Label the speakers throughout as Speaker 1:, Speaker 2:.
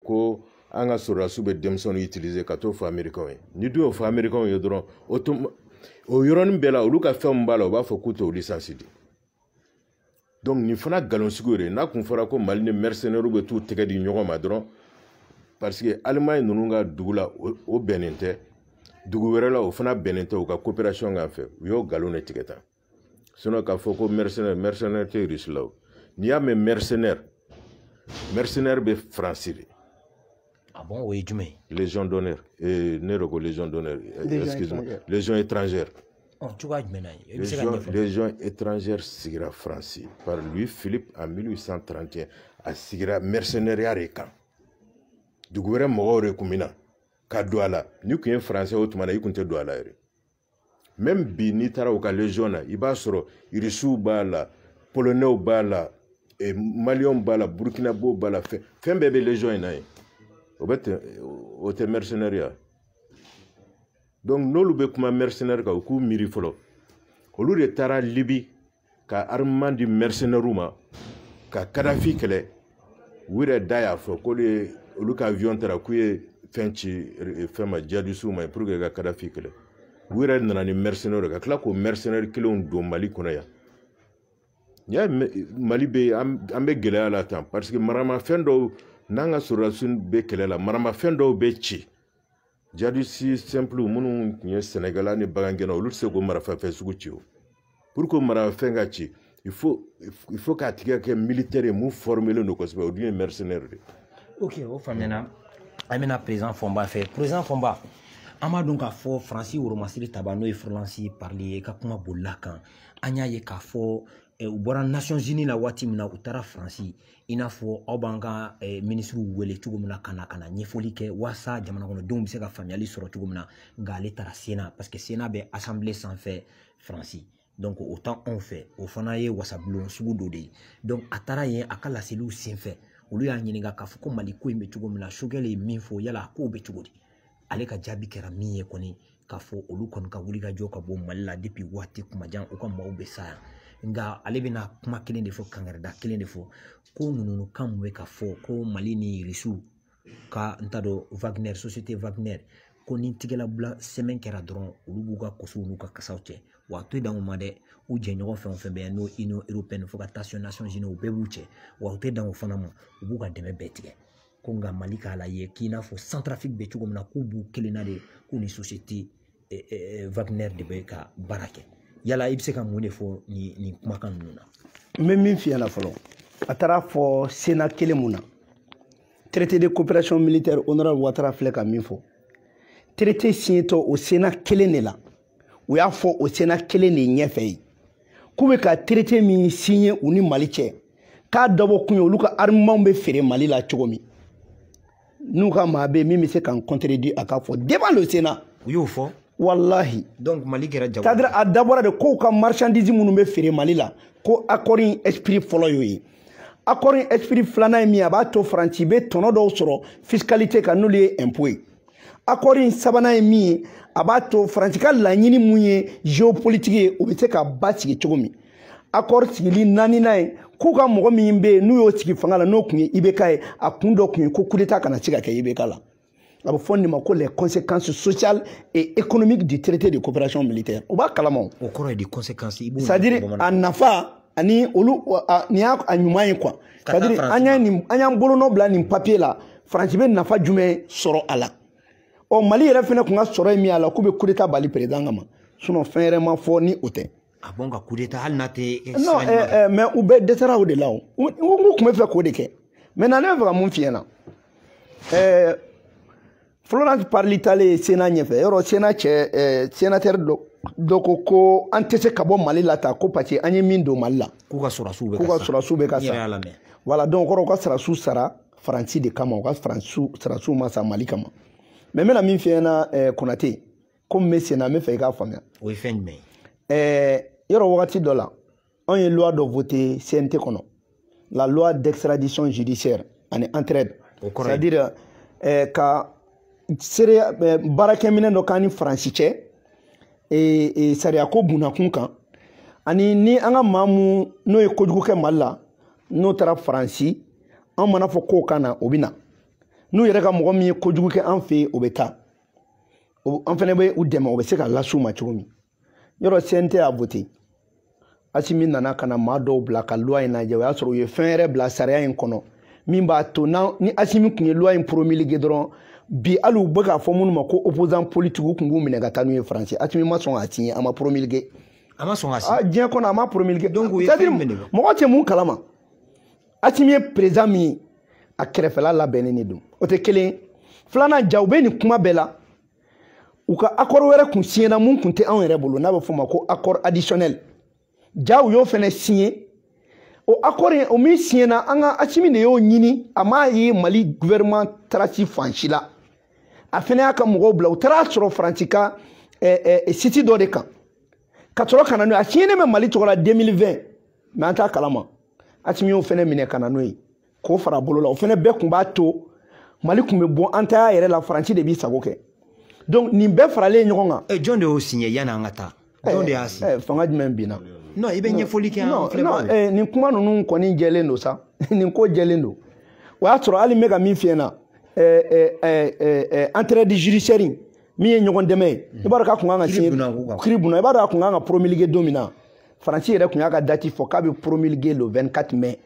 Speaker 1: ko an ka sɔrɔdasiw bɛ denmisɛnninw utiliser ka t'o fɔ amerikɛnw ye ni dun y'o fɔ amerikɛnw ye dɔrɔn o tun o yɔrɔnin bɛɛ la olu ka fɛn min b'a la u b'a fɔ k'u t'o lisansi di donc nin fana nkalonsigiw de n'a tun fɔra ko mali ni mercenaires bɛ t'u tɛgɛ di ɲɔgɔn ma dɔrɔn parce que alimaɲi ninnu ka dugu la o bɛnnen tɛ dugu wɛrɛ la o fana bɛnnen tɛ u ka coopération kan fɛ u y'o nkalon de tigɛ tan sinɔn k'a fɔ ko mɛrisenɛri mɛrisenɛri tɛ irisi la o n'i y'a mɛn mɛrisenɛri mɛrisenɛri bɛ faransi de Ah bon,
Speaker 2: o ye jumɛn ye légion d'honneur eh,
Speaker 1: ne yɛrɛ ko légion d'honneur eh, excuse moi légion étrangère oh, cogoya
Speaker 2: jumɛn na i bɛ se ka ɲɛfɔ
Speaker 1: légion étrangère sigira faransi par Louis-Philippe en 1831 a sigira mercenariat de kan dugu wɛrɛ mɔgɔw de kun bɛ na ka don a la n'i kun ye faransɛ o tuma na i kun tɛ don a la yɛrɛ mɛmi bi n'i taara u ka légion na i b'a sɔrɔ irisiw b'a la polonɛw b'a la eh, maliyɛnw b'a la burkinabɛw b'a la fɛn bɛɛ bɛ légion in na yen o tɛ mercenaireya donc n'olu bɛ kuma mercenaire kan u k'u miiri fɔlɔ olu de taara libi ka armement di mercenaires ma ka kadafi kɛlɛ u yɛrɛ da y'a fɔ k'olu ye olu ka avion taara k'u ye fɛn ci eh, fɛn ma jadisiw ma pour que ka kadafi kɛlɛ u yɛrɛ nana ni mercenaires ka tila k'o mercenaires kelenw don mali kɔnɔ yan n y'a mali bɛ an bɛ gɛlɛya la tan parce que maramafɛn dɔw n'an ka sɔrɔdasiw bɛ kɛlɛ la maramafɛn dɔw bɛ ci jadisi sɛnpulu minnu tun ye sɛnɛkɛla ni bagangɛnna olu tɛ se k'o maramafɛn sugu ci o pour que marafɛn ka ci il faut il faut k'a tigi kɛ militaire ye min formelen don kosɛbɛ o dun ye mercenaire de ye. ok o
Speaker 2: faamuyana an bɛna président fɔnba fɛ président fɔnba an b'a dɔn k'a fɔ faransi woromasiri taba n'o ye Florence Parly ye ka kuma bolila kan an y'a ye k'a fɔ u bɔra nasɔnsini la waati min na u taara faransi i n'a fɔ aw b'an ka minisiriw wele cogo min na ka na ka na ɲɛfɔli kɛ walasa jamanakɔnɔdenw bɛ se ka faamuyali sɔrɔ cogo min na nka ale taara sena paseke sena bɛ asanbile sanfɛ faransi donc o ta anw fɛ o fana ye wasabulon sugu dɔ de ye donc a taara yen a ka laseliw senfɛ olu y'a ɲininka k'a fɔ ko mali ko in bɛ cogo min na sogɛli ye min fɔ yala a kow bɛ cogo di ale ka jaabi kɛra min ye kɔni k'a fɔ olu kɔni ka wulikajɔ ka bon mali la depi waati kuma jan u ka maaw bɛ sa yan nka ale bɛna kuma kelen de fɔ kankarida kelen de fɔ ko ninnu kan min bɛ ka fɔ ko mali ni irisiw ka n t'a dɔn wagner société wagner ko ni tigɛlabila sɛbɛn kɛra dɔrɔn olu b'u ka kosow n'u ka kasaw cɛ wa a tɛ dan o ma dɛ u jɛɲɔgɔn fɛn o fɛn bɛ yan n'o union européenne fo ka taa se nations unies u bɛɛ b'u cɛ wa u tɛ dan o fana ma u b'u ka dɛmɛ bɛɛ tigɛ ko nka mali k'a la ye k'i n'a fɔ centrafrique bɛ cogo min na k'u b'u kelenna de k'u ni société eh, eh, eh, wagner de bɛ ka baara kɛ yala i bɛ se ka mun de fɔ nin kumakan ninnu na n bɛ min f'i ɲɛna
Speaker 3: fɔlɔ a taara fɔ sénat kelen mun na traité de coopération militaire honorable watara filɛ ka min fɔ traité signetɔ o sénat kelen de la u y'a fɔ o sénat kelen de ɲɛfɛ ye k'u bɛ ka traité min signé u ni mali cɛ k'a dabɔ kun ye olu ka armement bɛ feere mali la cogo min n'u ka maa bɛ min bɛ se k'an contredire a k'a fɔ devant le sénat u y'o
Speaker 2: fɔ
Speaker 3: walahi donc mali
Speaker 2: kɛra jago c'est-à-dire a dabɔra de
Speaker 3: k'u ka marchandise minnu bɛ feere mali la ko accord in esprit fɔlɔ y'o ye accord in esprit filanan ye min ye a b'a to faransi bɛ tɔnɔ dɔw sɔrɔ fiscalité kan n'olu ye impôt ye accord in sabanan ye min ye a b'a to faransi ka laɲini min ye géopolitique ye o bɛ se ka basigi cogo min accord sigili naaninan ye k'u ka mɔgɔ min bɛ yen n'u y'o sigi fanga la n'o tun ye ibk ye a kun dɔ tun ye ko kudeta kana se ka kɛ ibk la a bɛ fɔ nin ma ko les conséquences sociales et économiques du traité de coopération militaire o b'a kalama o kɔrɔ ye di conséquences
Speaker 2: c'est à dire a
Speaker 3: nafa ani olu nin y'a ɲuman ye quoi c'est à dire an y'a ni an y'an bolonɔ bila nin papiye la faransi bɛ nafa jumɛn sɔrɔ a la ɔ mali yɛrɛ fana tun ka sɔrɔ ye min y'a la k'u bɛ kudeta bali perezidan kama sinon fɛn yɛrɛ ma fɔ ni o tɛ ah bon ka
Speaker 2: kudeta hali n'a tɛ non mais
Speaker 3: u bɛɛ dɛsɛra o de la u tun bɛ fɛ k'o de kɛ maintenant ne bɛ fɛ ka mun f'i ɲɛna ɛɛ Florence Parly taalen Sénat ɲɛfɛ yɔrɔ Sénat cɛ eh, sénateur dɔ dɔ ko ko an tɛ se ka bɔ Mali la tan ko parce que an ye min don Mali la k'u ka sɔrɔdasiw bɛ ka sa k'u ka
Speaker 2: sɔrɔdasiw bɛ ka sa voilà donc kɔrɔ u ka
Speaker 3: sɔrɔdasiw sara Faransi de kama u ka Faransiw sɔrɔdasiw ma sa Mali kama mais n bɛna min f'i ɲɛna eh, Konate komi n bɛ Sena n bɛ fɛ i k'a faamuya o ye fɛn jumɛn
Speaker 2: ye eh, yɔrɔ wagati dɔ
Speaker 3: la anw ye loi dɔ voté CNT kɔnɔ la loi d'extradition judiciaire ani entraide c'est à dire eh, ka seereya eh, baarakɛminɛ dɔ k'an ni faransi cɛ eh, eh, sariyako bunnakun kan ani ni an ka maa min n'o ye kojugu kɛ mali la n'o taara faransi an mana fɔ k'o ka na o bɛ na n'u yɛrɛ ka mɔgɔ min ye kojugu kɛ an fɛ yen o bɛ taa an fana bɛ u dɛmɛ o bɛ se ka las'u ma cogo min yɔrɔ cnt y'a voté asimi nana ka na maa dɔw bila ka loi in lajɛ o y'a sɔrɔ u ye fɛn yɛrɛ bila sariya in kɔnɔ min b'a to ni asimi tun ye loi in promulgué dɔrɔn bi hali u bɛ k'a fɔ minnu ma ko opposant politique u tun b'u minɛ ka taa n'u ye faransi asimi ma sɔn k'a signé a ma promulgué a ma sɔn k'a
Speaker 2: signé diɲɛ kɔnɔ a ma promulgué
Speaker 3: donc o ye fɛn min ye
Speaker 2: mɔgɔ tɛ min
Speaker 3: kalama asimi ye président min ye a kɛrɛfɛla labɛnnen de don o tɛ kelen ye filanan ja u bɛ nin kuma bɛɛ la u ka akɔri wɛrɛ kun siɲɛna mun kun tɛ anw yɛrɛ bolo n'a bɛ f'o ma ko akɔri adisiyɔnɛli ja u y'o fɛnɛ siɲɛ o akɔri o min siɲɛna an ka asimi de y'o ɲini a m'a ye mali guvɛrɛman tarasi fan si la a fɛnɛ y'a ka mɔgɔw bila u taara sɔrɔ faransi ka eh, eh, siti dɔ de kan ka sɔrɔ ka na n'o ye a siɲɛnen bɛ mali tɔgɔ la 2020 mɛ an t'a kalama asimi y'o fɛnɛ minɛ ka na n'o ye k'o fara bolo la o fɛnɛ bɛɛ kun b'a to mali kun bɛ bɔ an ta yɛrɛ la faransi de b'i sago kɛ donc nin bɛɛ faralen ɲɔgɔn kan. ɛ eh, jɔn de y'o siɲɛ yanni an
Speaker 2: ka taa. Eh, jɔn de y'a siɲɛ. Eh, fanga jumɛn binna.
Speaker 3: non i bɛ ɲɛfɔli
Speaker 2: kɛ an filɛbagaw ye. nin kuma ninnu
Speaker 3: kɔni jɛlen don sa nin ko jɛlen don o y'a sɔrɔ hali n bɛ ka min f'i ɲɛna entraide judiciaire min ye ɲɔgɔn dɛmɛ ye i b'a dɔn k'a kun kan ka siɲɛ kiri bunna i b'a dɔn a kun kan ka promulguer don min na faransi yɛrɛ kun y'a ka dati fɔ k'a bɛ promulguer le 24 mai.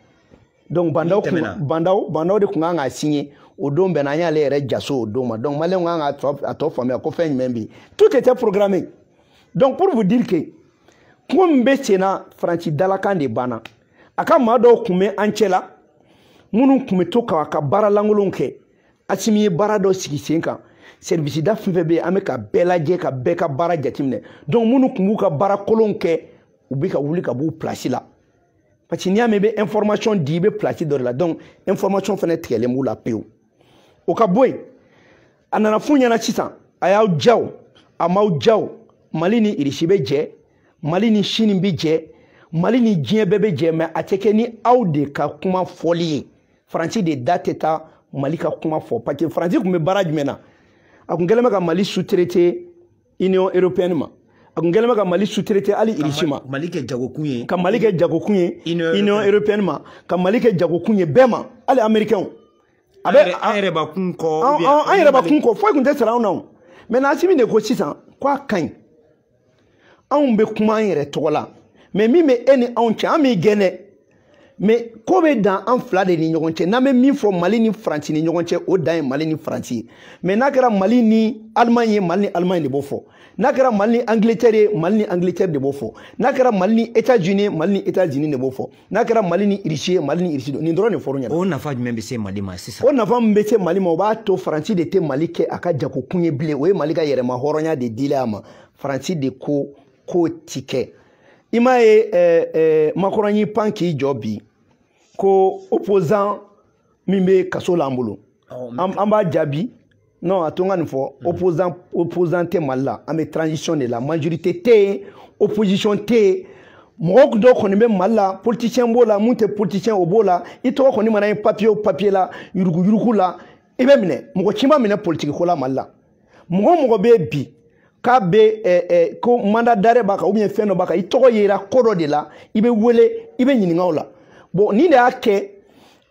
Speaker 3: donc ba ndaw kun ba ndaw ba ndaw de kun kan k'a signé o don bɛnna an y'ale yɛrɛ jaso o don ma donc maliyɛnw kan k'a tɔ a tɔ faamuya ko fɛn jumɛn bɛ yen tout était programmé donc pour vous dire que kuma min bɛ sen na faransi dalakan de banna a ka maa dɔw kun bɛ an cɛla minnu kun bɛ to k'a ka baara lankolonw kɛ asimi ye baara dɔ sigi sen kan sɛrivisida fɛn fɛn bɛ yen an bɛ ka bɛɛ lajɛ ka bɛɛ ka baara jateminɛ donc minnu kun b'u ka baara kolonw kɛ u bɛ ka wuli ka b'u pilasi la parce que n'i y'a mɛn i bɛ information di i bɛ place dɔ de la donc information fɛnɛ tigɛlen b'u la pewu o ka bɔ yen a nana f'u ɲɛna sisan a y'aw ja o a m'aw ja o mali ni irisi bɛ jɛ mali ni chine bɛ jɛ mali ni diɲɛ bɛɛ bɛ jɛ mɛ a tɛ kɛ ni aw de ka kuma fɔli ye faransi de da tɛ taa mali ka kuma fɔ parce que faransi kun bɛ baara jumɛn na a kun kɛlen bɛ ka mali sutirete union européenne ma a kun kɛlen bɛ ka mali sutirete hali irisi ma mali kɛ jagokun
Speaker 2: ye ka mali kɛ jagokun
Speaker 3: ye union européenne ma ka mali kɛ jagokun ye bɛɛ ma hali américainw a bɛ
Speaker 2: an yɛrɛ ba kun kɔ an yɛrɛ ba kun
Speaker 3: kɔ foyi kun tɛ sara anw na o mɛ n'asimi de ko sisan ko a ka ɲi anw bɛ kuma an yɛrɛ tɔgɔ la mɛ min bɛ e ni anw cɛ an b'i gɛn dɛ mais ko bɛ dan an fila de ni ɲɔgɔn cɛ n'an bɛ min fɔ mali ni faransi ni ɲɔgɔn cɛ o dan ye mali ni faransi ye mais n'a kɛra mali ni alimaɲi ye mali ni alimaɲi de b'o fɔ n'a kɛra mali ni angletɛri ye mali ni angletɛri de b'o fɔ n'a kɛra mali ni etats unis ye mali ni etats unis de b'o fɔ n'a kɛra mali ni irisi ye mali ni irisi nin dɔrɔn de fɔr'u ɲɛna o nafa jumɛn bɛ
Speaker 2: se
Speaker 3: mali
Speaker 2: ma sisan o nafa min bɛ se mali ma
Speaker 3: o b'a to faransi de tɛ mali kɛ a ka jagokun ye bilen o ye mali ka yɛrɛmahɔrɔnya de dila a ma faransi de ko k'o ti kɛ i m'a ye eh, eh, makɔrɔn y'i pan k'i jɔ bi ko opposant min bɛ kaso la an bolo an b'a jaabi non a to n ka nin fɔ hmm. opposant opposant tɛ mali la an bɛ transition de la majorité tɛ yen opposition tɛ yen mɔgɔ dɔ kɔni bɛ mali la politicien b'o la mun tɛ politicien o b'o la i tɔgɔ kɔni mana ye papiye o papiye la yuruguyurugu la i bɛ minɛ mɔgɔ si ma minɛ politiki ko la mali la mɔgɔ mɔgɔ bɛ bi k'a bɛ ɛ ɛ ko mandat d'arrêt b'a kan ou bien fɛn dɔ b'a kan i tɔgɔ yera ko dɔ de la i bɛ wele i bɛ ɲininka o la bon nin de y'a kɛ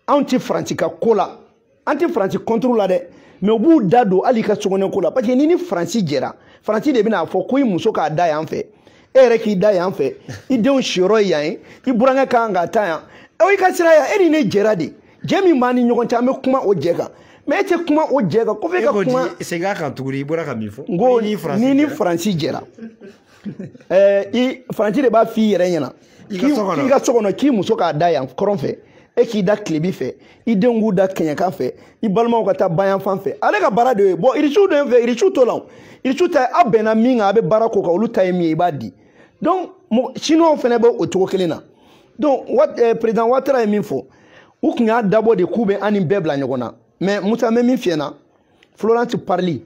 Speaker 3: anw tɛ faransi ka ko la an tɛ faransi contre la dɛ mais u b'u da don hali i ka sokɔnɔ ko la parce que ni ni faransi jɛra faransi de bɛn'a fɔ ko i muso k'a da yan fɛ e yɛrɛ k'i da yan fɛ i denw siyɔrɔ ye yan ye i burankɛ ka kan ka taa yan i ka sira yan e ni ne jɛra de jɛ min b'an ni ɲɔgɔn cɛ an bɛ kuma o jɛ kan mais e tɛ kuma o jɛ kan ko f'e ka kuma segin a kan tuguni i
Speaker 2: bɔra ka min fɔ n ko ni
Speaker 3: ni faransi jɛra ɛɛ i faransi de b'a f'i yɛrɛ ɲɛna i ka so kɔnɔ k'i muso k'a da yan kɔrɔn fɛ e k'i da tilebi fɛ i denw k'u da kɛɲɛka fɛ i balimaw ka taa bayanfan fɛ ale ka baara de ye bon irisiw dɔ in fɛ irisiw to la irisiw ta aw bɛnna min kan a bɛ baara k'o kan olu ta ye min ye i b'a di donc chinois fana bɛ o cogo kelen na donc eh, président watara ye min fɔ u tun y'a dabɔ de k'u bɛ an ni bɛɛ bila ɲɔgɔn na mais musa n bɛ min f'i ɲɛna florence parly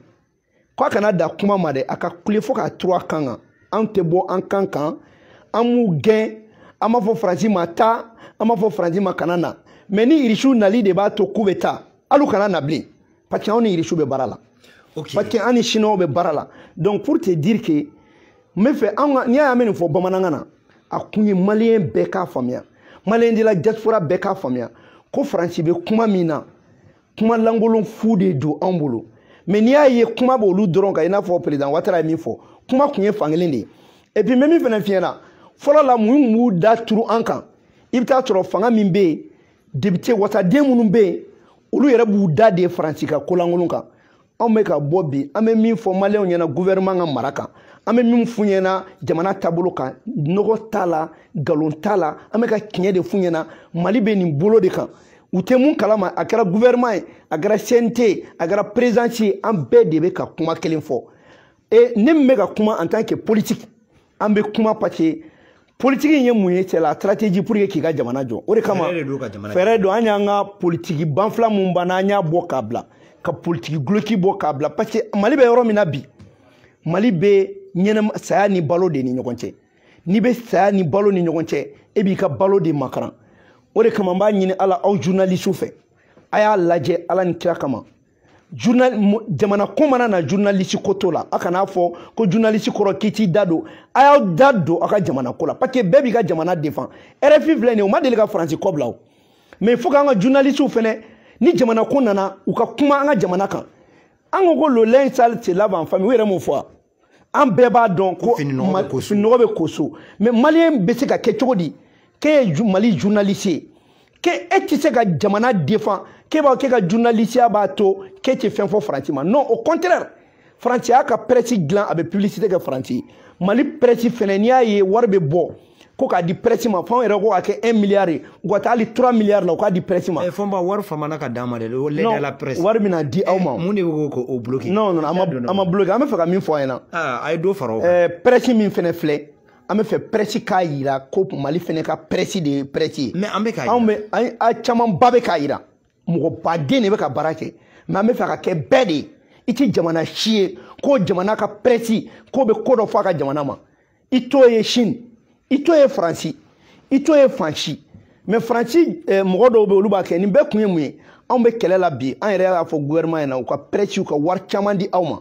Speaker 3: k'a kana dan kuma ma dɛ a ka kule fo k'a turu a kan kan an tɛ bɔ an kan kan an m'u gɛn an b'a fɔ faransi ma taa an b'a fɔ faransi ma kana na mais ni irisiw nali de b'a to k'u bɛ taa hali u kana na bilen parce que anw ni irisiw bɛ baara la okay. parce que an ni siniwaw bɛ baara la donc pour te dire que n b'a fɛ anw ka n'i y'a ye an bɛ nin fɔ bamanankan na a kun ye maliyɛn bɛɛ k'a faamuya maliyɛn de la diaspora bɛɛ k'a faamuya ko faransi bɛ kuma min na kuma lankolon fu de don anw bolo mais n'i y'a ye kuma b'olu dɔrɔn kan i n'a fɔ perezidan watara ye min fɔ kuma kun ye fankelen de ye et puis n bɛ min fana f'i ɲɛna fɔlɔ la minnu tun b'u da turu an kan i bɛ t'a sɔrɔ fanga min bɛ yen depite wasaden minnu bɛ yen olu yɛrɛ b'u da de faransi ka kolankolon kan anw bɛ ka bɔ bi an bɛ min fɔ maliyɛnw ɲɛna guvɛrɛman ka mara kan an bɛ min f'u ɲɛna jamana taabolo kan nɔgɔ t'a la nkalon t'a la an bɛ ka tiɲɛ de f'u ɲɛna mali bɛ nin bolo de kan u tɛ mun kalama a kɛra guvɛrɛman ye a kɛra cnt ye a kɛra présidence ye an bɛɛ de bɛ ka kuma kelen fɔ e ne min bɛ ka kuma en tant que politique an bɛ kuma parce que politiki in ye mun ye c'est la stratégie pour que k'i ka jamana jɔ o de kama fɛɛrɛ don an y'an ka politiki banfila mun banna an y'a bɔ k'a bila ka politiki guloki bɔ k'a bila parce que mali bɛ yɔrɔ min na bi mali bɛ ɲɛnɛma saya ni balo de ni ɲɔgɔn cɛ n'i bɛ saya ni balo ni ɲɔgɔn cɛ e b'i ka balo de makaran o de kama n b'a ɲini ala aw journalisiw fɛ a y'a lajɛ ala ni kira kama journal jamana ko mana na journaliste ko to la a kana fɔ ko journaliste kɔrɔ k'i t'i da don a y'aw da don aw ka jamana ko la parce que bɛɛ b'i ka jamana défend rfi filɛ nin ye o ma deli ka faransi kɔ bila o mais fo k'an ka journalistew fɛnɛ ni jamana ko nana u ka kuma an ka jamana kan an ko ko le linge sale se lave en famille u yɛrɛ m'o fɔ wa an bɛɛ b'a dɔn ko fininɔgɔ bɛ ko so mais maliyɛn bɛ se ka kɛ cogo di k'e ye mali journaliste ye k'e e tɛ se ka jamana défend k'e b'a k'e ka journalisiya b'a to k'e tɛ fɛn fɔ faransi ma non au contraire faransi y'a ka presse dilan a bɛ publicité kɛ faransi mali presse fɛnɛ n'i y'a ye wari bɛ bɔ ko k'a di presse ma f'anw yɛrɛ ko k'a kɛ 1 milliard ye u ka taa hali 3 milliard la u k'a di presse ma. ɛɛ fɔnba wari famana
Speaker 2: ka d'an ma dɛ o l'aide à la presse. non wari bɛna di aw ma.
Speaker 3: mun de bɛ k'o o bloquer.
Speaker 2: non non an ma an ma
Speaker 3: bloquer an bɛ fɛ ka min fɔ a ɲɛna. aa a ye dɔ fara o kan. ɛɛ
Speaker 2: presse min fɛnɛ filɛ
Speaker 3: an bɛ fɛ presse k'a yira ko mali fɛnɛ ka presse de ye presse ye. mais an bɛ k'a yira anw bɛ
Speaker 2: an
Speaker 3: a camanba bɛ k'a yira mɔgɔ baden de bɛ ka baara kɛ mais an bɛ fɛ ka kɛ bɛɛ de ye i tɛ jamana si ye ko jamana ka presse k'o bɛ ko dɔ fɔ a ka jamana ma. i t'o ye chine i t'o ye faransi i t'o ye fan si mais faransi eh, mɔgɔ dɔw bɛ olu b'a kɛ nin bɛɛ kun ye mun ye anw bɛ kɛlɛ la bi an yɛrɛ y'a fɔ gouvernement ɲɛna u ka presse u ka wari caman di aw ma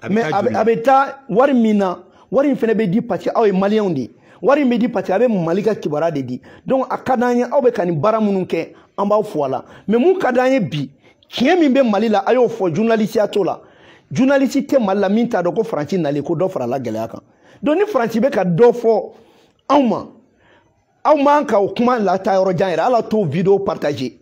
Speaker 3: mais a bɛ taa wari min na wari in fɛnɛ bɛ di parce que aw ye maliyɛnw de ye wari in bɛ di parce que a bɛ mali ka kibaruya de di donc a ka d'an ye aw bɛ ka nin baara minnu kɛ an b'aw fo a la mais mun ka d'an ye bi tiɲɛ min bɛ mali la a y'o fɔ journalisiya t'o la journaliste tɛ mali la min t'a dɔn ko faransi nalen ko dɔ farala gɛlɛya kan donc ni faransi bɛ ka dɔ fɔ anw ma aw man ka o kuma lata yɔrɔ jan yɛrɛ ala t'o vidéo partager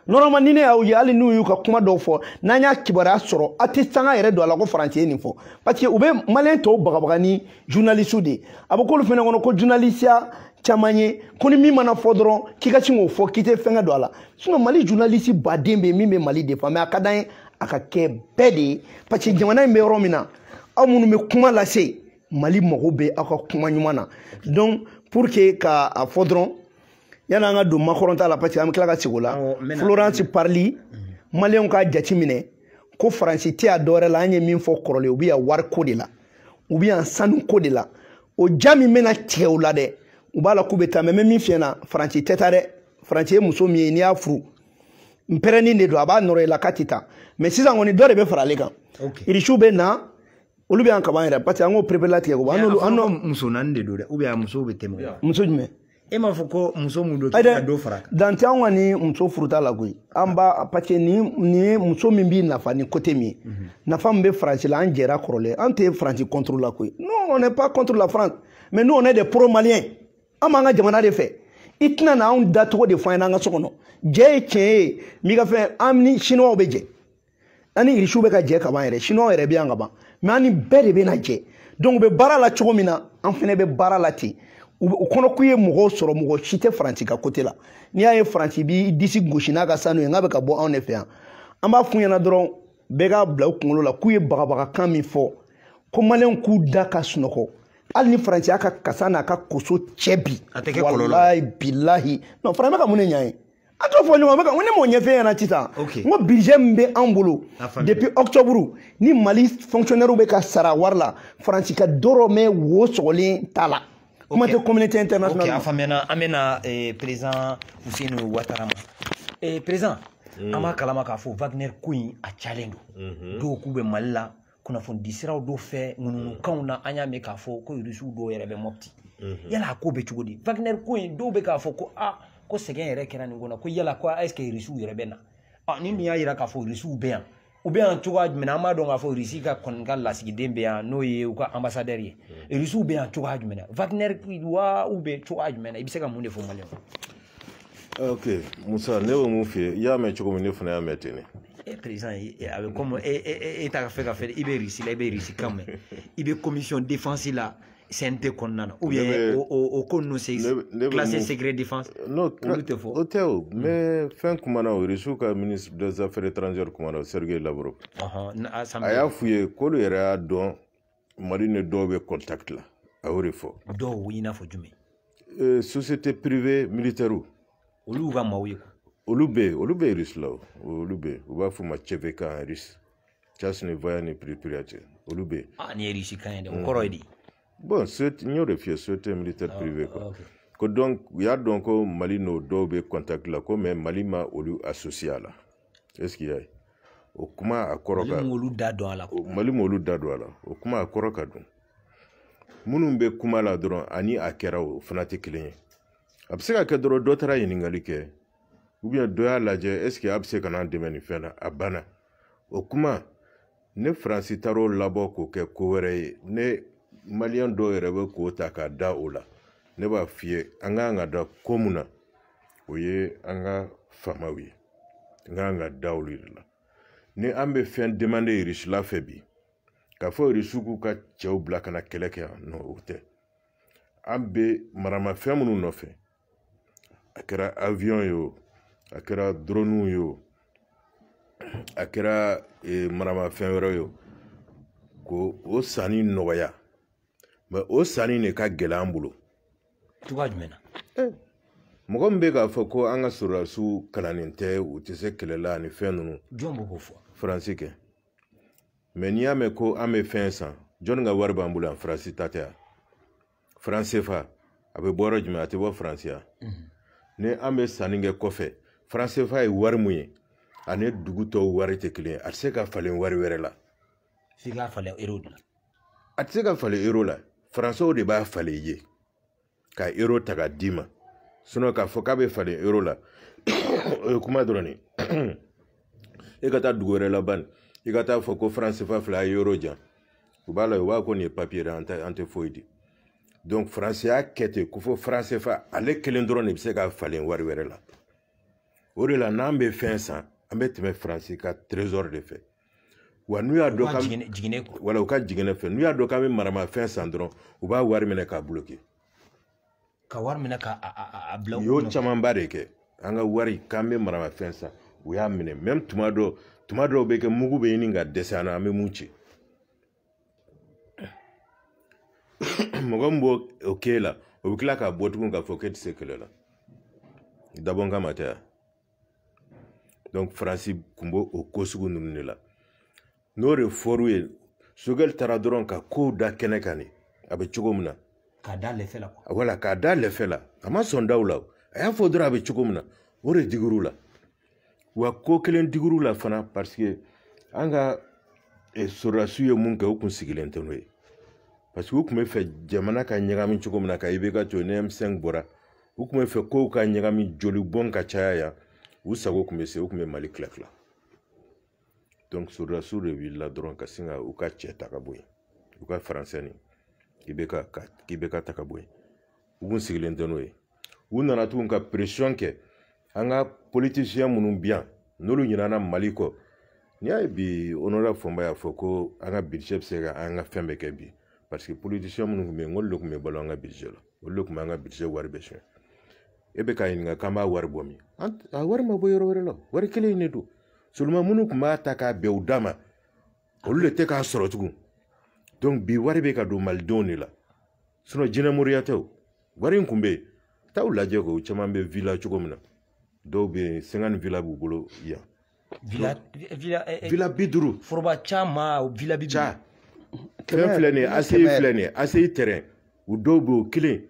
Speaker 3: normalement ni ne y'aw ye hali n'u y'u ka kuma dɔw fɔ n'an y'a kibaruya sɔrɔ a tɛ sanga yɛrɛ don a la ko faransi ye nin fɔ parce que u bɛ maliyɛn tɔw bagabaga ni journaliste de ye a bɛ k'olu fɛnɛ kɔnɔ ko journalisiya caman ye ko ni min mana fɔ dɔrɔn k'i ka sin k'o fɔ k'i tɛ fɛnkɛ don a la sinon mali journaliste baden bɛ yen min bɛ mali défend mais a ka d'an ye a ka kɛ bɛɛ de ye parce que jamana in bɛ yɔrɔ min na aw minnu bɛ kuma lase mali mago bɛ aw ka kuma ɲuman na donc pour que ka a fɔ dɔrɔn yanni an ka don macron ta la parce que an bɛ tila ka segin o la florence parly maliyɛnw k'a jate minɛ ko faransi tɛ yan dɔwɛrɛ la an ye min fɔ kɔrɔlen u bɛ yan wariko de la u bɛ yan sanuko de la o ja min bɛna tigɛ u la dɛ u b'a la k'u bɛ taa mais n bɛ min f'i ɲɛna faransi tɛ taa dɛ faransi ye muso min ye n'i y'a furu npɛrɛnin de don a b'a nɔrɔ i la k'a tɛ taa mais sisan kɔni dɔ de bɛ fara ale kan irisiw bɛ na olu bɛ yan kaban yɛrɛ parce que an k'o pereperelatigɛ ko an n'olu an n'o muso naani
Speaker 2: de don dɛ ou bien a musow bɛ tɛmɛ muso jumɛn
Speaker 3: e m'a fɔ
Speaker 2: ko muso mun don ka dɔ fara kan dan tɛ an kɔni
Speaker 3: muso furuta la koyi an b'a parce que nin nin ye muso min b'i nafa ni côté min ye mhm. nafa min bɛ faransi la an jɛra kɔrɔlen an tɛ faransi contre la koyi non on n'est pas contre la France mais nous on est des pro maliens an b'an ka jamana de fɛ i tɛna na anw dacogo de fɔ an ɲɛna an ka so kɔnɔ jɛ ye tiɲɛ ye n'i ka fɛn an ni chinois bɛ jɛ an ni irisiw bɛ ka jɛ ka ban yɛrɛ siniwaw yɛrɛ bɛ yan ka ban mais an ni bɛɛ de bɛna jɛ donc u bɛ baara la cogo min na an fana bɛ baara la ten u kɔnɔ k'u ye mɔgɔw sɔrɔ mɔgɔ si tɛ faransi ka côté la n'i y'a ye faransi b'i disi gosi n'a ka sanu ye n'a bɛ ka bɔ anw de fɛ yan an b'a f'u ɲɛna dɔrɔn bɛɛ k'a bila u kunkolo la k'u ye bagabagakan min fɔ ko maliyɛnw k'u da ka sunɔgɔ hali ni faransi y'a ka kasa n'a ka koso cɛ bi walayi bilahi non faransi bɛ ka mun de ɲa ye a t'o fɔ ɲɔgɔn bɛ kan ko ne m'o ɲɛf'i ɲɛna sisan n ko budget min bɛ anw bolo depuis octobre ni mali fonctionnairew bɛ ka sara wari la faransi ka dɔrɔmɛ wo sɔgɔlen t'a la kuma tɛ communauté internationale ok a faamuyana an
Speaker 2: bɛna eh, président Fousseynou Ouattara ma eh, président an b'a kalama k'a fɔ Wagner ko in a cayalen don dɔw k'u bɛ mali la kunnafonidi siraw dɔw fɛ ŋunuŋunukanw na an y'a mɛn k'a fɔ ko irisiw dɔw yɛrɛ bɛ mɔpti mhm. yala a ko bɛ cogo di wagner ko in dɔw bɛ k'a fɔ ko kɔsegin yɛrɛ kɛra nin ko na ko yala ko est ce que irisiw yɛrɛ bɛ na ɔ ni min y'a yira k'a fɔ irisiw bɛ yan u bɛ yan cogoya jumɛn an b'a dɔn k'a fɔ irisi ka kɔni ka lasigiden bɛ yan n'o ye u ka anbasadɛri ye irisiw mhm. bɛ yan cogoya jumɛn wagner wa u bɛ cogoya jumɛn i bɛ se ka mun de fɔ mali
Speaker 1: ok musa ne bɛ mun f'i ye i y'a mɛn cogo min ne fana y'a mɛn ten de président a
Speaker 2: bɛ komi e e e t'a fɛ k'a fɔ i bɛ irisi la i bɛ irisi kan mɛn i bɛ commission défense la CNT kɔnɔna na ou bien o o ko ninnu c'est classé secret défense non olu tɛ
Speaker 1: fɔ o tɛ o mais fɛn kumana o irisiw ka ministre des affaires étrangères kumana Sergei Lavrov a y'a f'u ye k'olu yɛrɛ y'a dɔn mali ni dɔw bɛ contact la a y'o de fɔ dɔw i n'a fɔ
Speaker 2: jumɛn euh, société
Speaker 1: privée militaire olu ka
Speaker 2: maaw ye olu bɛ yen olu bɛ
Speaker 1: yen Russie la o olu bɛ yen u b'a f'o ma cvk en russe tchastnye voennye predpriyatiya olu bɛ yen ah nin ye russe kan ye
Speaker 2: dɛ o kɔrɔ ye di
Speaker 1: bon n y'o de f'i ye société militaire ah, privée quoi okay. ko donc u y'a dɔn ko mali n'o dɔw bɛ contact la ko mais mali ma olu associé a la est ce qu'il y a o kuma a kɔrɔ ka mali m'olu da don a
Speaker 2: la mali m'olu da don a
Speaker 1: la o kuma a kɔrɔ ka dun minnu bɛ kuma la dɔrɔn ani a kɛra o fana tɛ kelen ye a bɛ se ka kɛ dɔrɔn dɔ taara ɲininkali kɛ ou bien dɔ y'a lajɛ est ce que a bɛ se ka n'an dɛmɛ nin fɛn na a banna o kuma ni faransi taar'o labɔ k'o kɛ ko wɛrɛ ye ni maliyɛn dɔw yɛrɛ bɛ k'o ta k'a da o la ne b'a f'i ye an ka kan ka da ko mun na o ye an ka faamaw ye an ka kan ka da olu de la ni an bɛ fɛn demander irisila fɛ bi k'a fɔ irisiw k'u ka cɛw bila ka na kɛlɛ kɛ yan non o tɛ an bɛ maramafɛn minnu nɔfɛ a kɛra awiyɔn ye o a kɛra drɔnuw ye o a kɛra e, maramafɛn wɛrɛ ye o ko o sanni nɔgɔya mais o sanni de ka gɛlɛn an bolo cogoya
Speaker 2: jumɛn na eh,
Speaker 1: mɔgɔ min bɛ k'a fɔ ko an ka sɔrɔdasiw kalannen tɛ u tɛ se kɛlɛ la ani fɛn ninnu jɔn b'o fɔ
Speaker 2: faransi kɛ
Speaker 1: mais n'i y'a mɛn ko an bɛ fɛn san jɔnni ka wari b'an bolo yan faransi ta tɛ yan franc cfa a bɛ bɔ yɔrɔ jumɛn a tɛ bɔ faransi yan mhm. ni an bɛ sanni kɛ kɔfɛ franc cfa ye wari mun ye ani dugu tɔw wari tɛ kelen ye a tɛ se ka falen wari wɛrɛ la f'i k'a
Speaker 2: falen euro de la a tɛ se ka
Speaker 1: falen euro la faransɛw de b'a falen i ye ka euro ta k'a d'i ma sinon k'a fɔ k'a bɛ falen euro la o ye kuma dɔrɔn de e ka taa dugu wɛrɛ la ban i ka taa fɔ ko franc cfa filɛ euro di yan u b'a la u b'a ko nin ye papiye de an tɛ an tɛ foyi di donc faransi y'a kɛ ten ko fo franc cfa ale kelen dɔrɔn de bɛ se ka falen wari wɛrɛ la o de la n'an bɛ fɛn san an bɛ tɛmɛ faransi ka trésor de fɛ wa n'u y'a dɔn k'an wala u ka jiginɛ fɛ n'u y'a dɔn k'an bɛ maramafɛn san dɔrɔn u b'a wari minɛ k'a bloquer
Speaker 2: ka wari minɛ ka a bila u y'o camanba de
Speaker 1: kɛ an ka wari k'an bɛ maramafɛn san u y'a minɛ même tuma dɔ tuma dɔw bɛ kɛ mugu bɛ ɲini ka dɛsɛ an na an bɛ mun ci mɔgɔ min b'o o k'e la o bɛ tila ka bɔ tugun k'a fɔ k'e tɛ se kɛlɛ la dabɔnkama tɛ yan donc faransi kun b'o o ko sugu ninnu de la n'o de fɔr'u ye sogɛli taara dɔrɔn ka kow da kɛnɛ kan de a bɛ cogo min na k'a da
Speaker 2: lɛfɛ la voilà k'a da lɛfɛ
Speaker 1: la a ma sɔn da u la a y'a fɔ dɔrɔn a bɛ cogo min na o de digir'u la wa ko kelen digir'u la fana parce que an ka eh, sɔrɔdasiw ye mun kɛ u kun sigilen tɛ n'o ye parce que u tun bɛ fɛ jamana ka ɲagami cogo min na ka ibk to ni m5 bɔra u tun bɛ fɛ kow ka ɲagami jolibɔn ka caya yan u sago tun bɛ se u tun bɛ mali tilatila donc sɔrɔdasiw de wulila dɔrɔn ka sin ka u ka cɛ ta ka bɔ yen u ka faransɛ nin k'ibk k'ibk ta ka bɔ yen u kun sigilen tɛ n'o ye u nana tuguni ka pression kɛ an ka politiciens minnu bɛ yan n'olu ɲinana mali kɔ n'i y'a ye bi honorable fɔnba y'a fɔ ko an ka budget bɛ se ka an ka fɛn bɛɛ kɛ bi parce que politiciens minnu tun bɛ yen n'olu de tun bɛ balo an ka budget la olu de tun bɛ an ka budget wari bɛɛ sonyɛ e bɛ k'a ɲininka k'an b'a wari bɔ min a wari ma bɔ yɔrɔ wɛrɛ la wari kelen in de don seulement minnu tun b'a ta k'a bɛn u da ma olu de tɛ k'a sɔrɔ tugun donc bi wari bɛ ka don malidenw de la sinon jinɛmoriya tɛ o wari in kun bɛ yen taa u lajɛ ko caman bɛ villa cogo min na dɔw bɛ yen cinquante villas b'u bolo yan villa villa eh, eh, villa bi duuru foroba
Speaker 2: caman villa bi duuru fɛn
Speaker 1: filɛ nin ye aseyi filɛ nin ye aseyi tɛrɛn u dɔw bɛ o kelen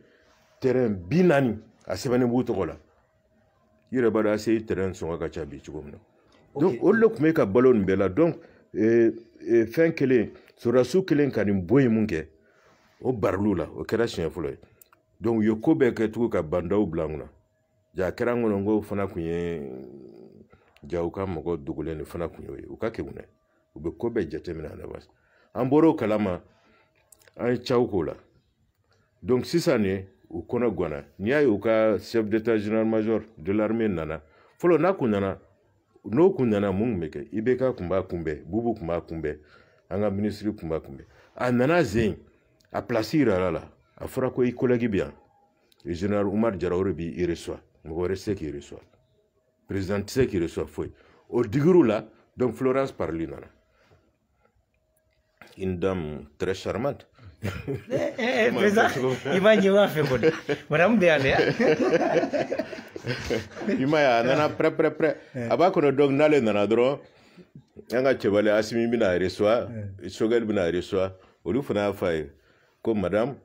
Speaker 1: tɛrɛn bi naani a sɛbɛnnen b'u tɔgɔ la i yɛrɛ b'a dɔn aseyi tɛrɛn sɔngɔ ka ca bi cogo min na donc olu de tun bɛ ka balo nin bɛɛ la donc eh, fɛn kelen sɔrɔdasiw kɛlen ka nin bɔ yen mun kɛ o baril'u la o kɛra siɲɛ fɔlɔ ye donc u ye ko bɛɛ kɛ tugun ka ba ndaw bila an kunna Jaa a kɛra an kɔnɔ ko fana kun ye jaa u ka mɔgɔ dogolen de fana kun y'o ye u ka kegun dɛ u bɛ ko bɛɛ jateminɛ à l'avance an bɔr'o kalama an ye caw k'o la donc sisan ne u kɔnɔ ganna n'i y'a ye u ka chef d'état général major de l'armée nana fɔlɔ n'a kun nana n'o kun nana mun tun bɛ kɛ ibk kun b'a kunbɛn bubu kun b'a kunbɛn an ka minisiri kun b'a kunbɛn a nana sen in a pilasi yiral'a la a fɔra ko i kolɛgi bɛ yan général umar jara o de b'i recevoir mɔgɔ wɛrɛ se k'i recevoir président tɛ se k'i recevoir foyi o digir'u la donc florence parly nana une dame très charmante eh, eh, eh,
Speaker 2: président i b'a ɲɛ b'a fɛ kɔni madame de y'ale
Speaker 1: i m'a ye a nana prɛ prɛ prɛ a b'a kɔnɔ donc n'ale nana dɔrɔn an ka cɛbali asimi bɛn'a recevoir sogɛli bɛn'a recevoir olu fana y'a fɔ a ye ko madame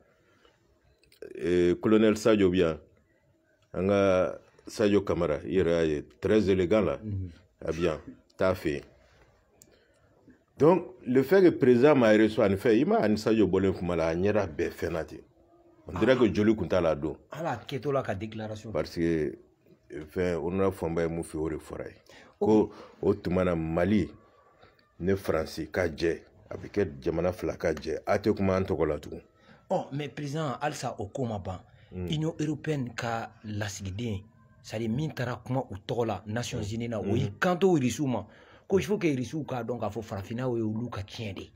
Speaker 1: eh, colonel sadio bi yan an ka sadio kamara i yɛrɛ y'a ye très élégant là mhm. a bi yan t'a fɛ yen donc le fait que président m'a reçu ani fɛn i ma a ni sadio bɔlen kuma la a ɲɛda bɛɛ fɛnna ten on dirait que joli kun t'a la a don ala kɛtɔ la
Speaker 2: ka déclaration parce que
Speaker 1: eh, fɛn o nana fanba ye mun fɛ o de fɔr'a ye ko o tuma na mali ni faransi ka jɛ a bɛ kɛ jamana fila ka jɛ a tɛ kuma an tɔgɔ la tugun ɔ mais
Speaker 2: président halisa o ko ma ban mm. union européenne ka lasigiden c'est-à-dire min taara kuma u tɔgɔ la nations mm. unies na o y'i mm. kanto irisiw ma ko il faut que irisiw k'a dɔn k'a fɔ farafinna ye olu ka tiɲɛ de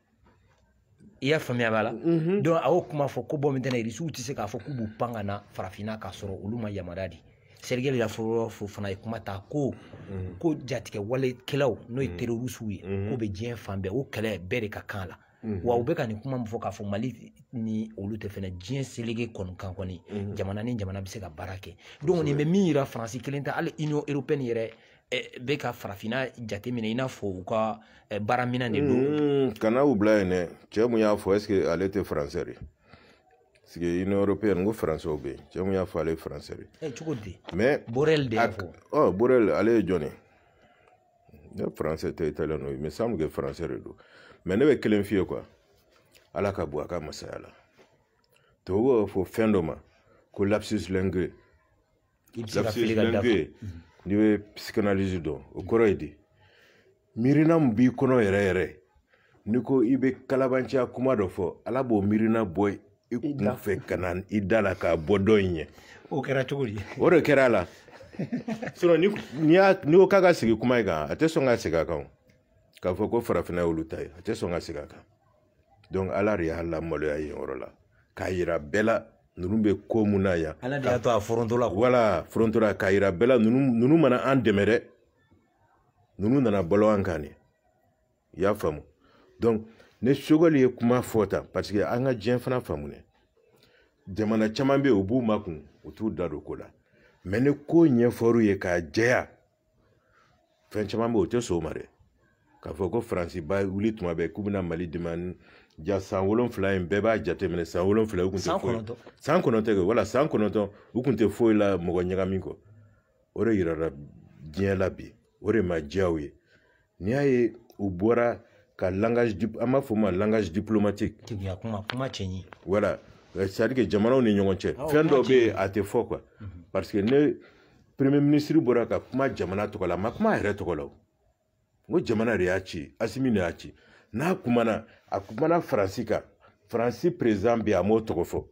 Speaker 2: i y'a faamuya b'a la mm-hmm. donc a y'o kuma fɔ ko bon maintenant irisiw tɛ se k'a fɔ k'u b'u pan ka na farafinna k'a sɔrɔ olu ma yamaruya di sergueï lavrov fana ye kuma ta ko mm-hmm. ko jatigɛwalekɛlaw n'o ye mm-hmm. terorisiw ye k'o bɛ diɲɛ fan bɛɛ o kɛlɛ bɛɛ de ka kan la Mm -hmm. wa u bɛ ka nin kuma min fɔ k'a fɔ mali ni olu tɛ fɛnɛ diɲɛ selege kɔni kan kɔni mm -hmm. jamana ni jamana bɛ se ka baara kɛ donc nin bɛ min yira faransi kelen tɛ hali union européenne yɛrɛ bɛ ka farafinna jateminɛ i n'a fɔ u ka baaraminɛn de don mm-hmm. kana u bila yen
Speaker 1: dɛ cɛ mun y'a fɔ est-ce que ale tɛ faransɛ de parce que union européenne ko faransɛw bɛ yen cɛ mun y'a fɔ ale ye faransɛ de cogo di mais
Speaker 2: borrell de y'a
Speaker 1: fɔ
Speaker 2: ɔ borrell ale ye jɔn ye
Speaker 1: ne français tɛ italien don mais semble que français de don mais ne bɛ kelen f'i ye quoi ala ka bɔ a ka masaya la tubabu b'a fɔ fɛn dɔ ma ko lapsus linguae lapsus linguae n'i bɛ psychanalyse dɔn o kɔrɔ ye di miirina min b'i kɔnɔ yɛrɛ yɛrɛ n'i ko i bɛ kalabanciya kuma dɔ fɔ ala b'o miirina bɔ i kun fɛ ka na i da la k'a bɔ dɔ in ɲɛ o kɛra cogo
Speaker 2: di o de kɛra a
Speaker 1: la sinon ni n'i y'a n'i ko k'a ka segin kuma in kan a tɛ sɔn ka segin a kan k'a fɔ ko farafinna y'olu ta ye a tɛ sɔn ka segin a kan donc ala de y'a lamaloya yen yɔrɔ la k'a yira bɛɛ la ninnu bɛ ko mun na yan ala de y'a to a
Speaker 2: foronto la voilà foronto la k'a
Speaker 1: yira bɛɛ la ninnu ninnu ma na an dɛmɛ dɛ ninnu nana balo an kan de i y'a faamu donc ni sogɛli ye kuma fɔ tan parce que an ka diɲɛ fana faamu dɛ jamana caman bɛ yen u b'u makun u t'u da don ko la mais ni ko ɲɛfɔr'u ye k'a jɛya fɛn caman bɛ yen u tɛ sɔn o ma dɛ k'a fɔ ko faransi bɛ wuli tuma bɛɛ k'u bɛna mali dɛmɛ ja san wolonfila in bɛɛ b'a jateminɛ san wolonfila u tun tɛ foyi san kɔnɔntɔn kɛ voilà san kɔnɔntɔn u tun tɛ foyi la mɔgɔ ɲagami kɔ o de yirara diɲɛ la bi o de ma diya u ye n'i y'a ye u bɔra ka langage an b'a fɔ o ma langage diplomatique tigiya kuma kuma cɛ
Speaker 2: ɲi voilà
Speaker 1: euh, c'est à dire que jamanaw ni ɲɔgɔn cɛ fɛn dɔ bɛ yen a tɛ fɔ quoi mhm. parce que ni premier ministre bɔra ka kuma jamana tɔgɔ la a ma kuma a yɛrɛ tɔgɔ la o n ko jamana de y'a ci asimi de y'a ci n'a kumana a kumana faransi kan faransi président bɛ yen a m'o tɔgɔ fɔ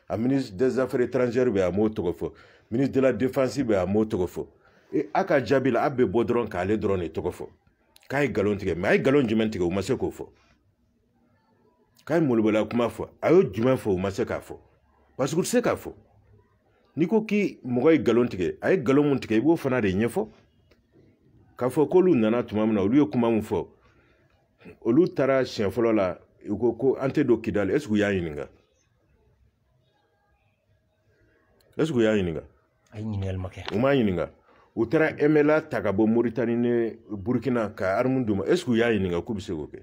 Speaker 1: a ministre des affaires étrangères bɛ yen a m'o tɔgɔ fɔ ministre de la défense bɛ yen a m'o tɔgɔ fɔ e a ka jaabi la a bɛ bɔ dɔrɔn k'ale dɔrɔn de tɔgɔ fɔ k'a ye nkalon tigɛ mais a ye nkalon jumɛn tigɛ u ma se k'o fɔ k'a ye molobɔla kuma fɔ a y'o jumɛn fɔ u ma se k'a fɔ parce que u tɛ se k'a fɔ n'i ko ko mɔgɔ ye nkalon tigɛ a ye nkalon mun tigɛ i b'o fana de ɲɛfɔ k'a fɔ k'olu nana tuma min na olu ye kuma min fɔ olu taara siɲɛ fɔlɔ la u ko ko an tɛ don kidali est ce que u y'a ɲininka u y'a ɲininka ayi ɲininkali
Speaker 2: ma kɛ u m'a ɲininka
Speaker 1: u taara mnla ta ka bɔ moritani ni burukina ka armes d'u ma est ce que u y'a ɲininka k'u bɛ se k'o kɛ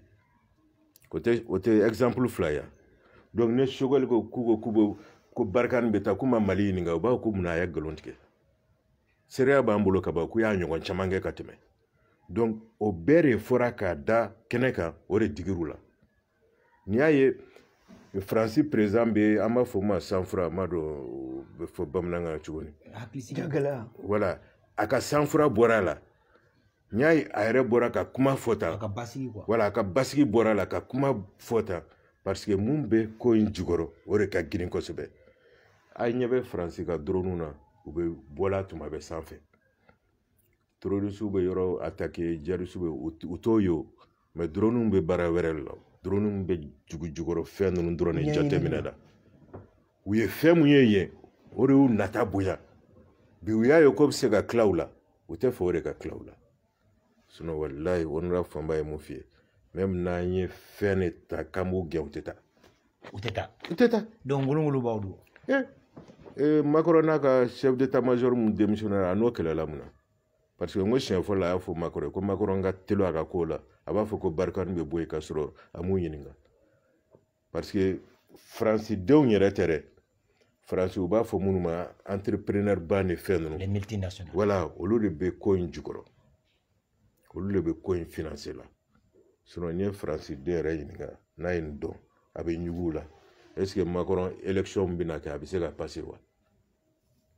Speaker 1: o tɛ o tɛ exemple fila ye donc ni sogɛli ko k'u ko k'u bɛ ko barikani bɛ taa k'u ma mali ɲininka u b'a fɔ ko mun a ye nkalon tigɛ seereya b'an bolo ka ban k'u y'a ɲɔgɔn caman kɛ ka tɛmɛ donc o bɛɛ de fɔra k'a da kɛnɛ kan o de digir'u la n'i y'a ye faransi président bɛ an b'a fɔ o ma sang froid n m'a dɔn o bɛ fɔ bamanankan cogo di voilà a
Speaker 3: ka
Speaker 1: sang froid bɔra a la n'i y'a ye a yɛrɛ bɔra ka kuma fɔ tan voilà a ka basigi bɔra a la ka kuma fɔ tan parce que mun bɛ ko in jukɔrɔ o de ka girin kosɛbɛ a ɲɛ bɛ faransi ka doroniw na u bɛ bɔla tuma bɛɛ sanfɛ terorisiw bɛ yɔrɔ atake jihadisiw bɛ u t'o ye o mɛ droniw bɛ baara wɛrɛ de la droniw bɛ dugu jukɔrɔ fɛn ninnu dɔrɔn de jateminɛ la u ye fɛn min ye yen o de y'u nata bonya bi u y'a ye k'o bɛ se ka tila u la u t'a fɛ o de ka tila u la sinɔn walayi honorable fɔnba ye min f'i ye même n'an ye fɛn de ta k'an b'u gɛn u tɛ taa u tɛ taa u tɛ taa donc ngolongolobaw
Speaker 2: don eh, eh, makɔrɔn n'a
Speaker 1: ka chef d'état major min démissionnéra a n'o kɛlɛla mun na parce que n ko siɲɛ fɔlɔ a y'a fɔ makɔrɔn ko makɔrɔn ka teli a ka ko la a b'a fɔ ko barikani bɛ bɔ yen k'a sɔrɔ a m'u ɲininka parce que faransidenw yɛrɛ tɛ dɛ faransi u b'a fɔ minnu ma entrepreneur ba ni fɛn ninnu voilà
Speaker 2: olu de bɛ
Speaker 1: ko in jukɔrɔ olu de bɛ ko in finanse la sinɔn n'i ye faransiden yɛrɛ ɲininka n'a ye nin dɔn a bɛ ɲugu u la ɛseke makɔrɔn elekisɔn bɛna kɛ a bɛ se ka pase wa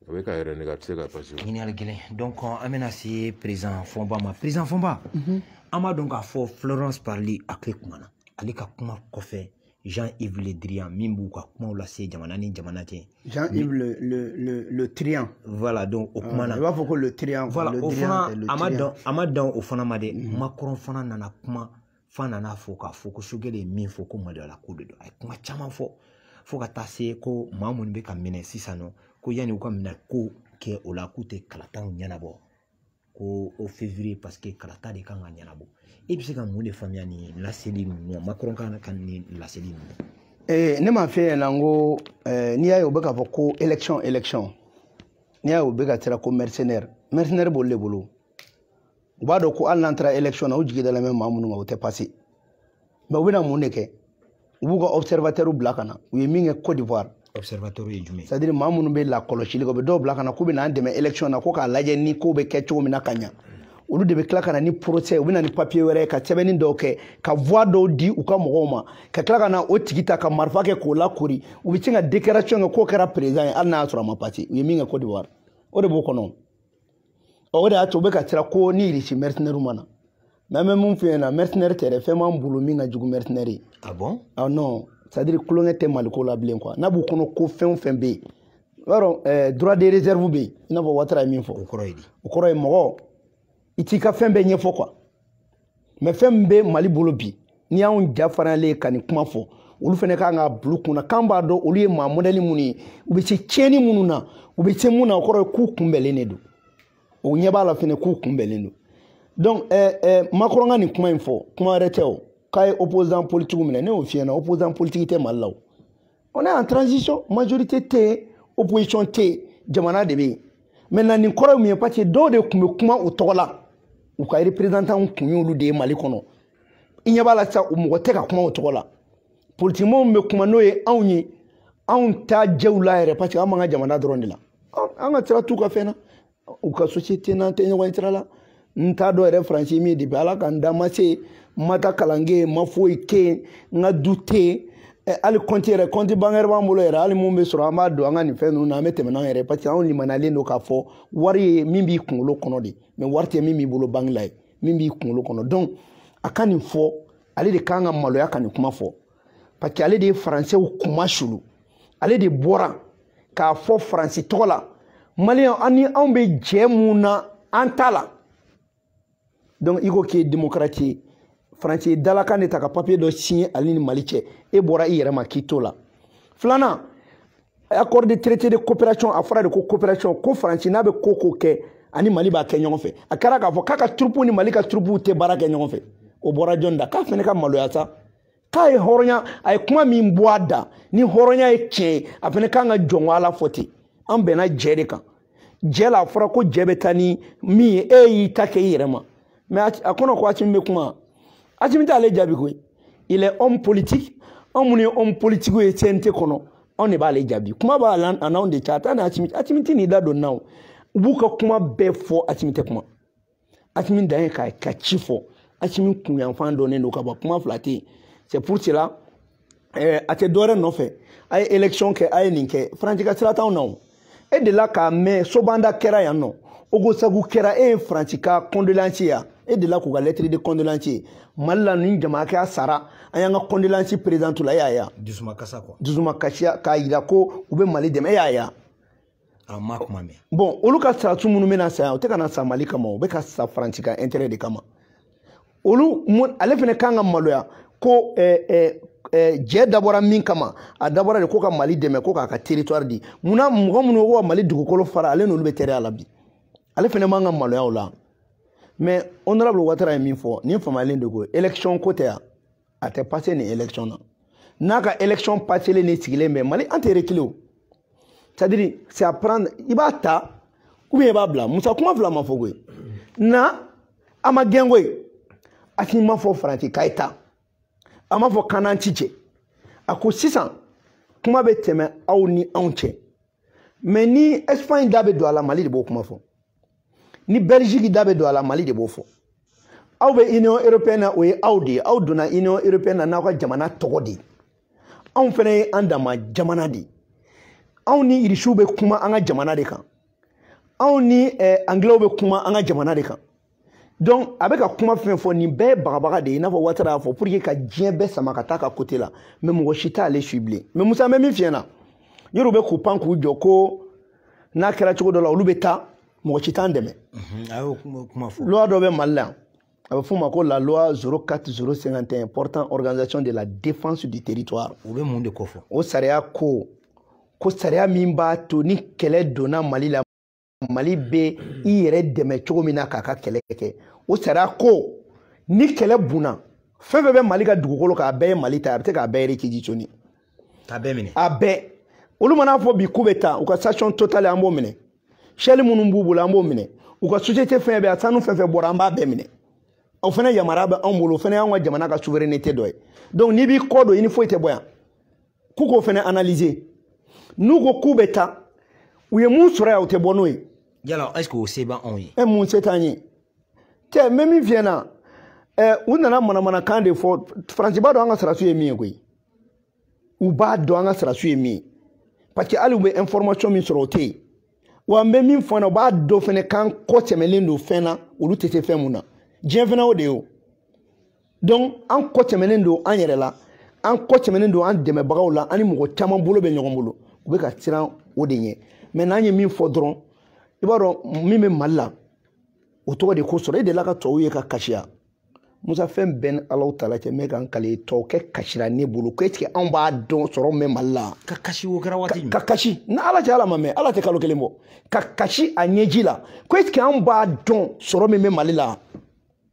Speaker 1: a bɛ k'a yɛrɛ nɛgɛn a tɛ se ka pase wa. ɲininkali gɛlɛn donc
Speaker 2: an bɛna se perezidan fɔnba ma perezidan fɔnba an b'a dɔn k'a fɔ florence parly a kelen kumana ale ka kuma kɔfɛ Jean Yves Le Drian min b'u ka kumaw lase jamana ni jamana cɛ. Jean Yves le
Speaker 3: le le le Drian. Voilà donc o
Speaker 2: kumana. Ah, I b'a fɔ ko le Drian.
Speaker 3: Voilà o fana
Speaker 2: a ma dan a ma dan o fana ma dɛ. Mhm. Macron fana nana kuma f'a nana fɔ k'a fɔ ko Sogɛli ye min fɔ ko maloyala ko de don a ye kuma caman fɔ fo ka taa se ko maa minnu bɛ ka minɛ sisan nɔ ko yanni u ka minɛko kɛ o la k'u tɛ kalataw ɲɛnabɔ. ko o fevrier paseke kalata de kan ka ɲɛnabɔ e bɛ se ka mun de faamuya nin laseli ninnu na makɔrɔn ka nin laseli ninnu ee eh, ne m'a f'i ɲɛna n
Speaker 3: ko eh, n'i y'a ye u bɛ k'a fɔ ko élection élection n'i y'a ye u bɛ ka siran ko mercenaire mercenaire b'olu de bolo u b'a dɔn ko hali n'an taara élection na u jigi dalen bɛ maa minnu kan o tɛ passé mɛ u bɛna mun de kɛ u b'u ka observatɛriw bila ka na u ye min kɛ cote d'ivoire observatɛriw ye jumɛn
Speaker 2: c'est à dire maa minnu bɛ
Speaker 3: lakɔlɔsili kɛ u bɛ dɔw bila ka na k'u bɛna an dɛmɛ élection na ko k'a lajɛ ni ko bɛ kɛ cogo min na ka ɲa olu de bɛ tila ka na ni procès u bɛ na ni papier wɛrɛ ye ka sɛbɛnni dɔw kɛ ka voix dɔw di u ka mɔgɔw ma ka tila ka na o tigi ta ka marifa kɛ k'o lakori u bɛ sin ka déclaration kɛ k'o kɛra président ye hali n'a y'a sɔrɔ a ma pase u ye min kɛ cote d'ivoire o de b'u kɔnɔ o de y'a to u bɛ ka siran ko ni irisi mɛrisenɛriw ma na mɛ an bɛ min f'i ɲɛna mɛrisenɛri tɛ dɛ fɛn b'an bolo min ka jugu mɛrisenɛri ye ah bon ah non
Speaker 2: c'est à
Speaker 3: dire tulonkɛ tɛ maliko la bilen quoi n'a b'u kɔnɔ ko fɛn o fɛn bɛ yen i b'a dɔn eh, droit de réserve bɛ yen i n'a fɔ watara ye min fɔ o kɔrɔ ye di o kɔrɔ
Speaker 2: ye mɔgɔ
Speaker 3: i t'i ka fɛn bɛɛ ɲɛfɔ quoi mɛ fɛn min bɛ mali bolo bi n'i y'anw ja farinyalen ye ka nin kuma fɔ olu fana kan k'a bil'u kunna k'an b'a dɔn olu ye maa mɔdɛli minnu ye u bɛ se tiɲɛni minnu na u bɛ se mun na o kɔrɔ ye k'u kunbɛnlen de don o ɲɛ b'a la fana k'u kunbɛnlen don donc ɛɛ ɛɛ makɔrɔn ka nin kuma in fɔ kuma wɛrɛ tɛ o k'a ye opposant politiki minɛ ne y'o f'i ɲɛna opposant politiki tɛ mali la o on est en transition majorité tɛ yen opposition tɛ yen jamana de bɛ yen maintenant nin kɔrɔ ye mun ye parce que dɔw de tun bɛ kuma u tɔgɔ la u ka représentant kun y'olu de ye mali kɔnɔ i ɲɛ b'a la sisan u mɔgɔ tɛ ka kuma u tɔgɔ la politikimɔgɔw bɛ kuma n'o ye anw ye anw t'a jɛw la yɛrɛ parce que an b'an ka jamana dɔrɔn de la an ka sira t'u ka fɛn na u ka société n'an tɛ ɲɔgɔn sira la n t'a dɔn yɛrɛ faransi min depuis ala ka n da ma se n ma taa kalan kɛ yen n ma foyi kɛ yen n ka du tɛ yen Eh, hali compte yɛrɛ compte bancaire b'an bolo yɛrɛ hali min bɛ sɔrɔ an b'a don an ka nin fɛn ninnu na an bɛ tɛmɛ n'an yɛrɛ parce que anw limaniyalen don k'a fɔ wari ye min b'i kunkolo kɔnɔ de mais wari tɛ min b'i bolo banque la ye min b'i kunkolo kɔnɔ donc a ka nin fɔ ale de kan ka maloya ka nin kuma fɔ parce que ale de ye faransɛw kuma sulu ale de bɔra k'a fɔ faransi tɔgɔ la maliyɛn an ni anw bɛ jɛ mun na an t'a la donc i ko k'i ye démocrate ye faransi ye dalakan de ta ka papiye dɔ siɲɛ ale ni mali cɛ e bɔra i yɛrɛ ma k'i t'o la filanan accord de traité de coopération a fɔra de ko coopération ko faransi n'a bɛ ko ko kɛ ani mali b'a kɛ ɲɔgɔn fɛ a kɛra k'a fɔ k'a ka turupuw ni mali ka turupuw tɛ baara kɛ ɲɔgɔn fɛ o bɔra jɔni da k'a fana ka maloya sa k'a ye hɔrɔnya a ye kuma min bɔ a da ni hɔrɔnya ye tiɲɛ ye a fana kan ka jɔn ala fɔ ten an bɛnna jɛ de kan jɛ la a fɔra ko jɛ bɛ taa ni min ye e y'i ta kɛ i yɛrɛ ma mais a kɔnɔ ko asimi bɛ kuma asimi t'ale jaabi koyi il est homme politique anw minnu ye homme politique ye cnt kɔnɔ anw de b'ale jaabi kuma b'a la a n'anw de cɛ a t'a ni asimi asimi tɛ n'i da don na o u b'u ka kuma bɛɛ fɔ asimi tɛ kuma asimi dan ye ka ka ci fɔ asimi kunyanfan dɔnnen don ka bɔ kuma fila tɛ yen c'est pour cela eh, a tɛ dɔwɛrɛ nɔfɛ a ye élection kɛ a ye nin kɛ faransi ka sira t'anw na o e delila k'a mɛn sobanda kɛra yan nɔ ogosagu kɛra e ye faransi ka condoléance ye yan e delila k'u ka lettre de condoléance ye mali la nin jama kɛ a sara an y'an ka condoléance présenter la e y'a ye yan dusuma kasa quoi
Speaker 2: dusumakasiya k'a
Speaker 3: jira ko u bɛ mali dɛmɛ e y'a ye yan an
Speaker 2: ma kuma mɛn bon olu ka soldat
Speaker 3: minnu bɛna sa yan u tɛ ka na sa mali kama u bɛ ka sa faransi ka intérêt de kama olu ale fana kan ka maloya ko eh, eh, eh, jɛ dabɔra min kama a dabɔra de ko ka mali dɛmɛ ko k'a ka territoire di munna mɔgɔ minnu ko ka mali dugukolo fara ale n'olu bɛ teriya la bi ale fana man ka maloya o la mais honorable watara ye min fɔ nin faamuyalen de ko élection ko tɛ yan a tɛ passer nin élection na n'a ka élection paselen ne sigilen bɛ mali an tɛ reculer o c'est à dire c'est à prendre i b'a ta ou bien i b'a bila musa kuma fila ma fɔ koyi na a ma gɛn koyi a si ma fɔ faransi k'a ye taa a ma fɔ k'an n'a tɛ jɛ a ko sisan kuma bɛ tɛmɛ aw ni anw cɛ mais ni espagne da bɛ don a la mali de b'o kuma fɔ ni belgique da bɛ don a la mali de b'o fɔ aw bɛ union européenne na o ye aw de ye aw donna union européenne na n'aw ka jamana tɔgɔ de ye anw fana ye an dama jamana de ye anw ni irisiw bɛ kuma an ka jamana de kan anw ni eh, angilɛw bɛ kuma an ka jamana de kan donc a bɛ ka kuma fɛn fɔ nin bɛɛ ye bagabaga de ye i n'a fɔ watara y'a fɔ pour que ka diɲɛ bɛɛ sama ka taa ka côté la mais mɔgɔ si t'ale su bilen mais musa bɛ min f'i ɲɛna yɔrɔ bɛ k'u pan k'u jɔ ko n'a kɛra cogo dɔ la olu bɛ taa mɔgɔ si t'an dɛmɛ
Speaker 2: loi dɔ bɛ mali la
Speaker 3: yan a bɛ f'o ma ko la loi 04051 portant organisation de la défense du territoire o bɛ mun de kofɔ
Speaker 2: o sariya ko
Speaker 3: ko sariya min b'a to ni kɛlɛ donna mali la mali bɛ i yɛrɛ dɛmɛ cogo min na k'a ka kɛlɛ kɛ o sariya ko ni kɛlɛ bunna fɛn fɛn bɛ mali ka dugukolo kan a bɛɛ ye mali ta a bɛ se k'a bɛɛ réquisitionner k'a bɛɛ minɛ
Speaker 2: a bɛɛ
Speaker 3: olu mana fɔ bi k'u bɛ taa u ka station totale an b'o minɛ shell minnu b'u bolo an b'o minɛ u ka société fɛn bɛɛ a sanu fɛn fɛn bɔra an b'a bɛɛ minɛ o fana yamaruya bɛ anw bolo o fana y'anw ka jamana ka souveraineté dɔ ye donc n'i b'i kɔ don i ni foyi tɛ bɔ yan k'u k'o fana analyser n'u ko k'u bɛ taa u ye mun sɔrɔ yan u tɛ bɔ n'o ye yala est ce que o
Speaker 2: se b'an anw ye ɛ mun se t'an ye
Speaker 3: tɛ n bɛ min f'i ɲɛna ɛ u nana manamanakan de fɔ faransi b'a dɔn an ka sɔrɔdasiw ye min ye koyi u b'a dɔn an ka sɔrɔdasiw ye min ye parce que hali u bɛ information min sɔrɔ o tɛ yen wa n bɛ min fɔ na u b'a dɔn fana k'an kɔ tɛmɛlen don fɛn na olu tɛ se fɛn mun na diɲɛ fana o de ye o donc an kɔ tɛmɛnen don an yɛrɛ la an kɔ tɛmɛnen don an dɛmɛbagaw la an ni mɔgɔ caman bolo bɛ ɲɔgɔn bolo u bɛ ka siran o de ɲɛ mais n'an ye min fɔ dɔrɔn i b'a dɔn min bɛ mali la o tɔgɔ de ko sɔrɔ e delila ka tɔw ye ka kasiya musa fɛn bɛɛ ni alahu taala cɛ mɛ kan kale tɔw kɛ kasira ne bolo ko est ce que anw b'a dɔn sɔrɔ min bɛ mali la ka kasi o kɛra
Speaker 2: waati ka kasi ni ala cɛ
Speaker 3: ala ma mɛn ala tɛ kalo kelen bɔ ka kasi a ɲɛji la ko est ce que anw b'a dɔn sɔrɔ min bɛ mali la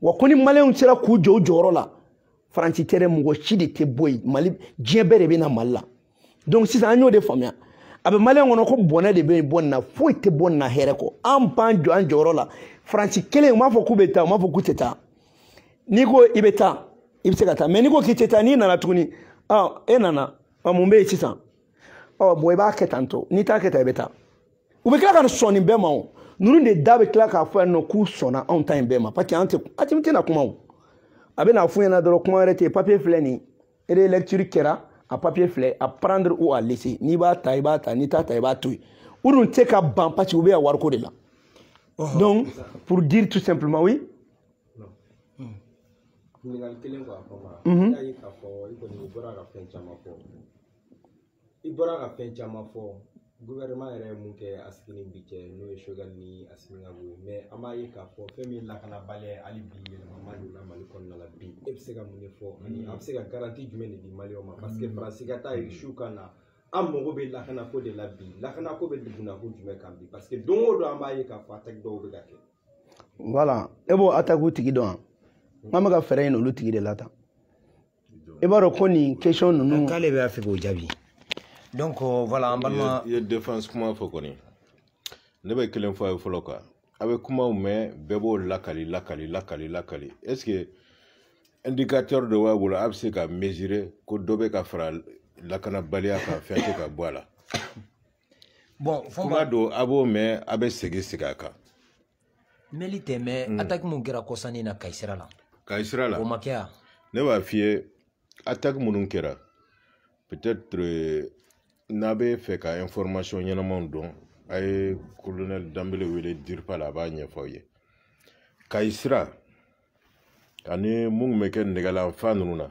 Speaker 3: wa ko ni maliyɛnw sera k'u jɔ u jɔyɔrɔ la faransi tɛ dɛ mɔgɔ si de tɛ bɔ yen mali diɲɛ bɛɛ de bɛ na mali la donc sisan an y'o de faamuya a bɛ maliyɛn kɔnɔ ko bɔnɛ de bɛ bɔ nin na foyi tɛ bɔ nin na hɛrɛ kɔ an b'an jɔ an jɔyɔrɔ la faransi kelen u m'a fɔ k'u bɛ taa u m'a fɔ k'u tɛ taa n'i ko i bɛ taa i bɛ se ka taa mais n'i ko k'i tɛ taa n'i nana tuguni e nana mun bɛ yen sisan ɔ bon i b'a kɛ tan tɔ n'i t'a kɛ tan i bɛ taa u bɛ tila ka sɔn nin bɛɛ ma o ninnu de da bɛ tila k'a fɔ yan nɔ k'u sɔnna anw ta in bɛɛ ma parce que an tɛ a tɛ tɛna kuma o a bɛn'a f'u ɲɛna dɔrɔn kuma wɛrɛ tɛ yen papiye filɛ nin ye relecture kɛra a papiye filɛ à prendre ou à laisser n'i b'a ta i b'a ta n'i t'a ta i b'a to yen u dun tɛ ka ban parce que u bɛ yan wariko de la donc pour dire tout simplement oui.
Speaker 4: ɲininkali kelen kɔ a kɔnɔ. y'a ye k'a fɔ i kɔni bɔra ka fɛn caman fɔ. i bɔra ka fɛn caman fɔ gouvernement yɛrɛ ye mun kɛ a sigi ni bi cɛ n'o ye Choguel ni Assimi Goïta ye mais an b'a ye k'a fɔ fɛn min ye lakanabaliya ye hali bi yɛlɛma donna Mali kɔnɔna la bi e bɛ se ka mun de fɔ ani a bɛ se ka garanti jumɛn de di maliyɛnw ma parce que Faransi ka taa Irisi ka na an mago bɛ lakanako de la bi lakanako bɛ dugunako jumɛn kan bi parce que don o don an b'a ye k'a fɔ ataki dɔw bɛ ka kɛ. voilà
Speaker 3: e b'o atakiw tigi dɔn wa nk'an bɛ ka fɛɛrɛ ɲini olu tigi de la tan. i b'a dɔn ko nin question ninnu k'ale bɛ fɛ k'o jaabi
Speaker 2: donc voilà an balima i ye défense kuma
Speaker 1: fɔ kɔni ne bɛ kelen fɔ a ye fɔlɔ quoi a bɛ kumaw mɛn bɛɛ b'o lakali lakali lakali lakali est ce que indicateur dɔ b'a bolo a bɛ se ka mesurer ko dɔ bɛ ka fara lakanabaliya kan fɛn tɛ ka bɔ a la bon
Speaker 2: kuma don a
Speaker 1: b'o mɛn a bɛ segin segin a kan
Speaker 2: mɛli tɛ mais mm. ataki mun kɛra kɔsa in na Kayi sira la Kayi sira la o ma kɛ wa ne b'a f'i ye
Speaker 1: ataki minnu kɛra peut-être euh, n'a bɛ fɛ ka information ɲɛnamaw dɔn a ye colonel Danbele wele DIRPA la a b'a ɲɛfɔ aw ye Kayi sira ani minnu bɛ kɛ Nɛgɛla fan ninnu na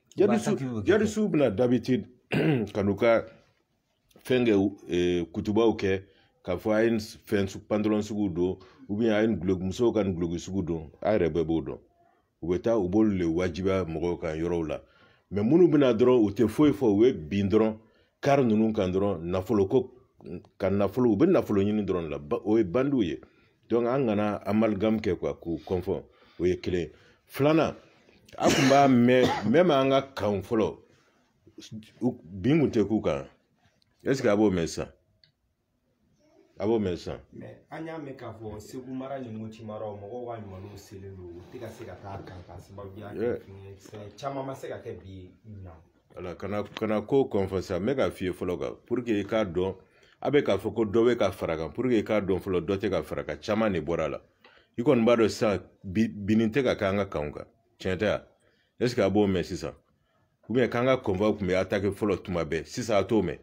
Speaker 1: djihadistes bɛ na d'habitude ka n'u ka fɛn kɛ e, kutubaw kɛ k'a fɔ a ye fɛn pantalon sugu don ou bien a ye guloki musow ka nin guloki sugu don a yɛrɛ bɛɛ b'o dɔn u bɛ taa u b'olu le wajibiya mɔgɔw kan yɔrɔw la mais minnu bɛ na dɔrɔn u tɛ foyi fɔ u bɛ bin dɔrɔn kari ninnu kan dɔrɔn nafolo ko ka nafolo u bɛ nafolo ɲini dɔrɔn la o ye bandiw ye donc an kana amalgame kɛ quoi k'u confondre o ye kelen filanan a tun b'a mɛn même an ka kan fɔlɔ bin kun tɛ k'u kan est ce que a b'o mɛn sisan a b'o mɛn sisan an y'a mɛn
Speaker 4: k'a fɔ Segu mara ni Moti mara mɔgɔw ka sumanw selen don u tɛ ka se ka taa a kan ka sababuya kɛ fɛn caman ma se ka kɛ bi na voilà kana
Speaker 1: kana ko confondre sisan n bɛ k'a f'i ye fɔlɔ kan pour que i k'a dɔn a bɛ k'a fɔ ko dɔ bɛ ka fara kan pour que i k'a dɔn fɔlɔ dɔ tɛ ka fara kan caman de bɔra a la i kɔni b'a dɔn sisan binni tɛ ka kɛ an ka kanw kan tiɲɛ tɛ wa est ce que a b'o mɛn sisan ou bien k'an ka convoiw tun bɛ atake fɔlɔ tuma bɛɛ sisan a t'o mɛn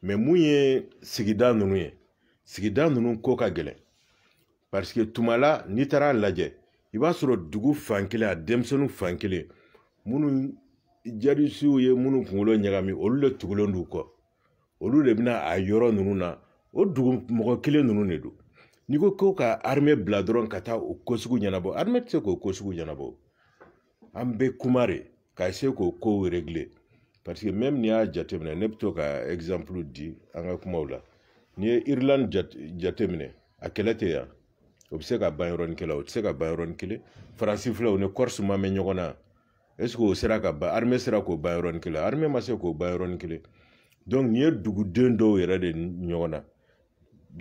Speaker 1: mais mun ye sigida ninnu ye sigida ninnu ko ka gɛlɛn parce que tuma la n'i taara lajɛ i b'a sɔrɔ dugu fan kelen a denmisɛnninw fan kelen minnu djihadistes ye minnu kunkolo ɲagami olu de tugulen d'u kɔ olu de bɛ na a yɔrɔ ninnu na o dugu mɔgɔ kelen ninnu de don n'i ko ko ka armée bila dɔrɔn ka taa o ko sugu ɲɛnabɔ armée tɛ se k'o ko sugu ɲɛnabɔ an bɛ kuma de ka se k'o kow régler parce que même n'i y'a jateminɛ ne bɛ to ka exemple di an ka kumaw la n'i ye Irlande jateminɛ a kɛlɛ tɛ yan o bɛ se ka ban yɔrɔnin kelen o tɛ se ka ban yɔrɔnin kelen Faransi filɛ o ni Corse ma mɛn ɲɔgɔn na est ce que o sera ka ban armée sera k'o ban yɔrɔnin kelen armée ma se k'o ban yɔrɔnin kelen donc nin ye duguden dɔw yɛrɛ de ɲɔgɔn na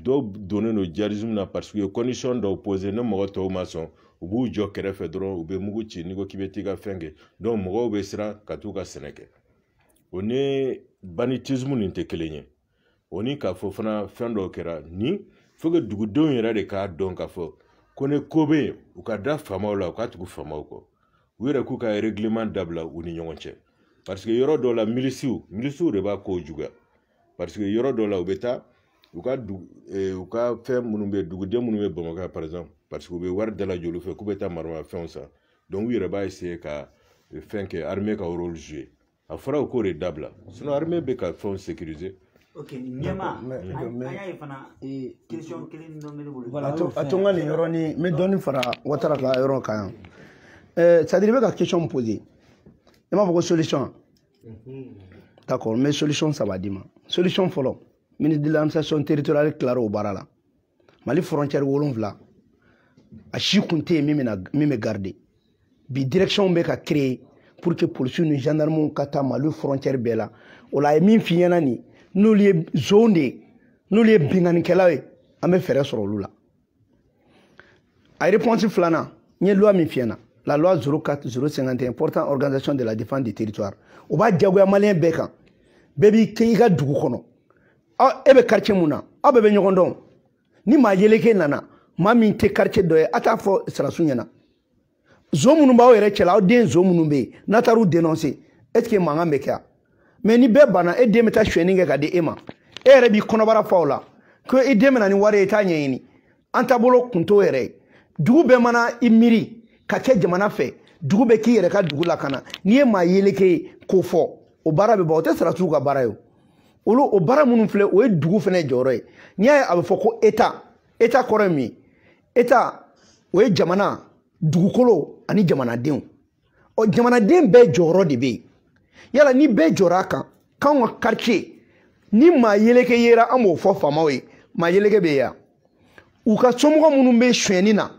Speaker 1: dɔw donnen don djihadisme na parce que condition dɔw posé ne mɔgɔ tɔw ma sɔn u b'u jɔ kɛrɛfɛ dɔrɔn u bɛ mugu ci n'i ko k'i bɛ t'i ka fɛn kɛ donc mɔgɔw bɛ siran ka t'u ka sɛnɛ kɛ o ni banditisme nin tɛ kelen ye o ni k'a fɔ fana fɛn dɔw kɛra ni faut que dugudenw yɛrɛ de k'a dɔn k'a fɔ ko ni ko bɛ yen u ka da faamaw la u ka tugu faamaw kɔ u yɛrɛ k'u ka règlement dabila u ni ɲɔgɔn cɛ parce que yɔrɔ dɔw la milisiw milisiw de b'a kow juguya parce que yɔrɔ dɔ la u bɛ taa u ka dugu eh, u ka fɛn minnu bɛ duguden minnu bɛ Bamakɔ par exemple parce que u bɛ wari dalajɛ olu fɛ k'u bɛ taa maramafɛnw san donc u yɛrɛ b'a essayer ka eh, fɛn kɛ armée ka rôle jouer a fɔra u k'o de dabila sinon armée bɛ ka fɛnw sécuriser ok ɲɛma an y'a
Speaker 5: ye fana question kelen dɔ bɛ ne bolo a to n ka nin
Speaker 3: yɔrɔnin n bɛ dɔɔnin fara Watara ka yɔrɔ kan yan c'est à dire i bɛ ka question poser i m'a fɔ ko solution d'accord n bɛ solution saba d'i ma solution fɔlɔ ministre de l'administration territoriale tilara o baara la Mali frontière wolonwula a si kun tɛ yen min bɛ gardé bi direction bɛ ka créer pour que policiers ni gendarmes ka taa Mali frontière bɛɛ la o la a ye min f'i ɲɛna nin n'olu ye zon de ye n'olu ye binkannikɛlaw ye an bɛ fɛɛrɛ sɔrɔ olu la a réponse filanan n ye loi min f'i ɲɛna la loi 04 051 portant organisation de la défense du territoire o b'a diyagoya maliyɛn bɛɛ kan bɛɛ b'i kɛ i ka dugu kɔnɔ e bɛ quartier mun na aw bɛɛ bɛ ɲɔgɔn dɔn ni maa yeleke nana maa min tɛ quartier dɔ ye a t'a fɔ sɔrɔdasiw ɲɛna zon minnu b'aw yɛrɛ cɛla aw den zon minnu bɛ yen n'a taar'u dénoncer est ce que mankan bɛ kɛ yan mais ni bɛɛ banna e den bɛ taa sonyɛni kɛ ka di e ma e yɛrɛ b'i kɔnɔbara fa o la ko i den bɛ na ni wari ye i t'a ɲɛɲini an taabolo kun t'o yɛrɛ ye dugu bɛɛ mana i miiri ka kɛ jamana fɛ dugu bɛɛ k'i yɛrɛ ka dugu lakana n'i ye maa yeleke ye k'o fɔ o baara bɛ ban o tɛ sɔrɔdasiw ka baara ye o olu o baara minnu filɛ o ye dugu fana jɔyɔrɔ ye n'i y'a ye a bɛ fɔ ko état état kɔrɔ ye mun ye état o ye jamana dugukolo ani jamanadenw ɔ jamanaden bɛɛ jɔyɔrɔ de bɛ yen yala ni bɛɛ jɔra a kan k'anw ka quartier ni maa yeleke yera an b'o fɔ faamaw ye maa yeleke bɛ yan u ka somɔgɔ minnu bɛ sonyɛni na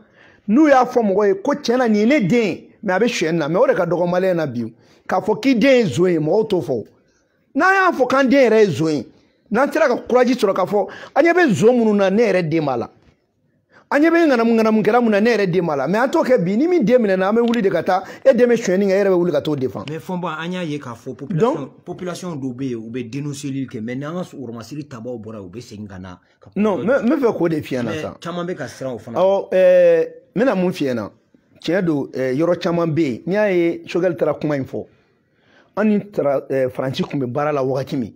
Speaker 3: n'u y'a fɔ mɔgɔ ye ko tiɲɛ na nin ye ne den ye mais a bɛ sonyɛni na mais o de ka dɔgɔ maliyɛn na bi k'a fɔ k'i den ye zon ye mɔgɔw t'o fɔ n'an y'a fɔ k'an den yɛrɛ ye zon ye n'an sera ka courage sɔrɔ k'a fɔ an ɲɛ bɛ zon minnu na ne yɛrɛ den b'a la an ɲɛ bɛ ŋanamu ŋanamu kɛra mun na ne yɛrɛ den b'a la mais an t'o kɛ bi ni min den minɛna an bɛ wuli de ka taa e den bɛ sonyɛni kɛ e yɛrɛ bɛ wuli ka t'o défendre mais fɔnba an y'a ye k'a
Speaker 2: fɔ population population dɔw bɛ yen u bɛ denɔnseli kɛ mais n'an ka sɔgɔmasiri tabaw bɔra u bɛ segin ka na non n bɛ
Speaker 3: fɛ k'o de f'i ɲɛ na sa caman bɛ ka siran o
Speaker 2: fana ɔ ɛɛ
Speaker 3: n bɛna mun f'i ɲɛ na tiɲɛ don yɔrɔ caman bɛ yen n'i y'a ye choguel taara kuma in fɔ an ni faransi tun bɛ baara la wagati min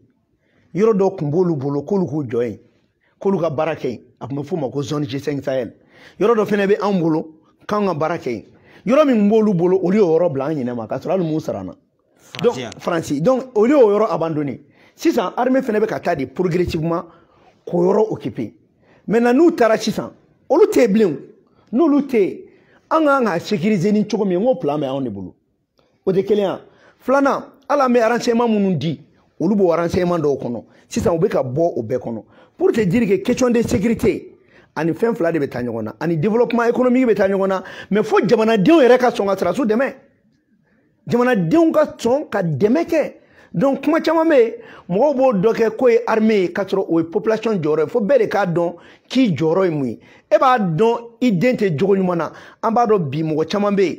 Speaker 3: yɔrɔ dɔ tun b'olu bolo k'olu k'u jɔ yen k'olu ka baara kɛ yen a tun bɛ f'o ma ko zone g5 sahel yɔrɔ dɔ fana bɛ anw bolo k'anw ka baara kɛ yen yɔrɔ min b'olu bolo olu y'o yɔrɔ bila an ɲinɛ ma k'a sɔrɔ hali u m'u sara an na donc faransi donc olu y'o yɔrɔ abandonné sisan armée fana bɛ ka taa de progressivement k'o yɔrɔ occuper maintenant n'u taara sisan olu tɛ yen bilen n'olu tɛ yen an ka kan ka sécuriser ni cogo min n ko plan bɛ anw de bolo o tɛ kelen ye a filanan hali an bɛ renseignement minnu di olu b'o renseignement dɔw kɔnɔ sisan u bɛ ka bɔ o bɛɛ kɔnɔ pour te dire que question de sécurité ani fɛn fila de bɛ taa ɲɔgɔn na ani développement économique bɛ taa ɲɔgɔn na mais fo jamanadenw yɛrɛ ka sɔn ka sɔrɔdasiw dɛmɛ jamanadenw ka sɔn ka dɛmɛ kɛ donc kuma caman bɛ yen mɔgɔw b'o dɔ kɛ k'o ye armée ye k'a sɔrɔ o ye population jɔyɔrɔ ye fo bɛɛ de k'a dɔn k'i jɔyɔrɔ ye mun ye e b'a dɔn i den tɛ jogo ɲuman na an b'a dɔn bi mɔgɔ caman bɛ yen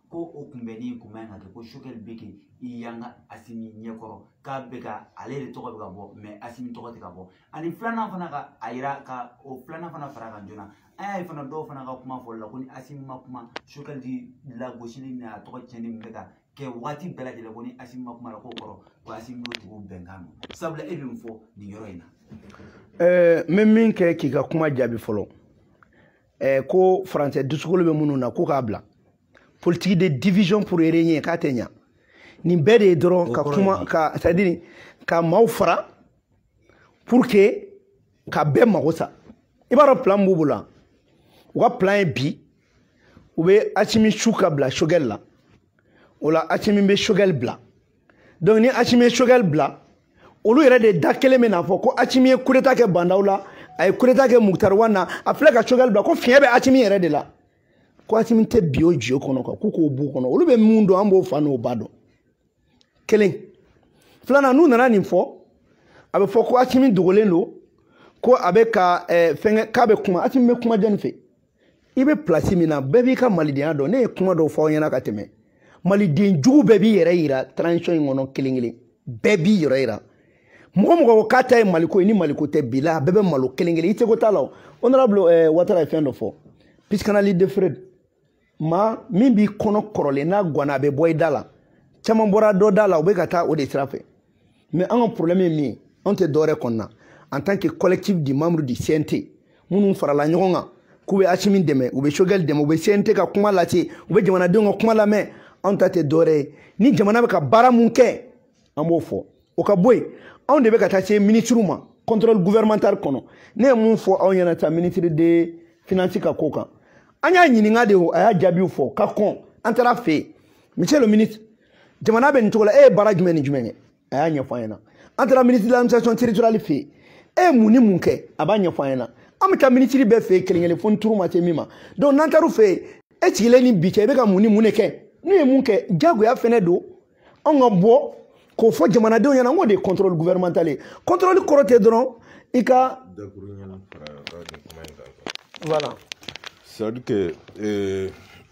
Speaker 5: ko o kunbɛnni tun man kan ka kɛ ko choguel bɛ ka i yanga asimi ɲɛkɔrɔ k'a bɛ ka ale de tɔgɔ bɛ ka bɔ mais asimi tɔgɔ tɛ ka bɔ ani filanan fana ka a yira ka o filanan fana fara kan joona an y'a ye fana dɔw fana ka kuma fɔli la ko ni asimi ma kuma choguel lagosili ni a tɔgɔ tiɲɛni min bɛ ka kɛ waati bɛɛ lajɛlen ko ni asimi ma kuma a la k'o kɔrɔ ko asimi n'o tigiw bɛnkan don sabula e bɛ min fɔ nin yɔrɔ in na. ɛɛ n bɛ min kɛ
Speaker 3: k'i ka kuma jaabi fɔlɔ. eh, ko faransɛ dusukolo bɛ minnu na ko k'a bila politique de division pour régner k'a tɛ ɲa nin bɛɛ de ye dɔrɔn ka kuma ka c'est à dire ka maaw fara pour que ka bɛɛ mago sa i b'a dɔn plan b'u bolo wa u ka plan ye bi u bɛ asimi su ka bila choguel la o la asimi bɛ choguel bila donc ni asimi ye choguel bila olu yɛrɛ de da kelen bɛn'a fɔ ko asimi ye kudeta kɛ ba ndaw la a ye kudeta kɛ mukutari wan na a filɛ ka choguel bila ko fiɲɛ bɛ asimi yɛrɛ de la ko asimi tɛ bin o jeu kɔnɔ quoi k'u k'o b'u kɔnɔ olu bɛ mun dɔn an b'o fa n'o ba dɔn kelen filanan n'u nana nin fɔ a bɛ fɔ ko asimi dogolen don ko a bɛ ka eh, fɛnkɛ k'a bɛ kuma asimi bɛ kuma jɔni fɛ i bɛ pilasi min na bɛɛ b'i ka malidenya dɔn ne ye kuma dɔw fɔ aw ɲɛna ka tɛmɛ maliden jugu bɛɛ b'i yɛrɛ yira transition in kɔnɔ kelen kelen bɛɛ b'i yɛrɛ yira mɔgɔ mɔgɔ ko k'a ta ye maliko ye ni maliko tɛ bi la a bɛɛ bɛ malo kelen kelen i tɛ ko t'a la o honorable eh, watara ye fɛn dɔ fɔ psychanalyse de freud ma min b'i kɔnɔ kɔrɔlen n'a gwanna a bɛ bɔ i da la caman bɔra dɔ da la u bɛ ka taa o de sira fɛ mais an ka problème ye min ye anw tɛ dɔwɛrɛ kɔnɔna en tant que collectif de membres du cnt minnu farala ɲɔgɔn kan k'u bɛ asimi dɛmɛ u bɛ choguel dɛmɛ u bɛ cnt ka kuma lase u bɛ jamanadenw ka kuma lamɛn anw ta tɛ dɔwɛrɛ ye ni jamana bɛ ka baara mun kɛ an b'o fɔ o ka bɔ yen anw de bɛ ka taa se minisiriw ma contrôle gouvernemental kɔnɔ ne ye mun fɔ aw ɲɛna ta ministre de finance ka ko kan an y'a ɲininka de o a y'a jaabiw fɔ ka kɔn an taar'a fɛ yen monsieur le ministre jamana bɛ nin cogo la e ye baara jumɛn ni jumɛn kɛ a y'a ɲɛfɔ an ɲɛna an taara minisiri de l'administration territoriale fɛ yen e ye mun ni mun kɛ a b'a ɲɛfɔ an ɲɛna an bɛ taa minisiri bɛɛ fɛ yen kelen kelen fo ni turu ma se min ma donc n'an taar'u fɛ yen e sigilen ni bi cɛ i bɛ ka mun ni mun de kɛ n'u ye mun kɛ diyagoya fɛnɛ don anw ka bɔ k'o fɔ jamanadenw ɲɛna n k'o de ye contrôle gouvernemental ye contrôle kɔrɔ tɛ dɔrɔn i ka voilà c'est à
Speaker 1: dire que euh,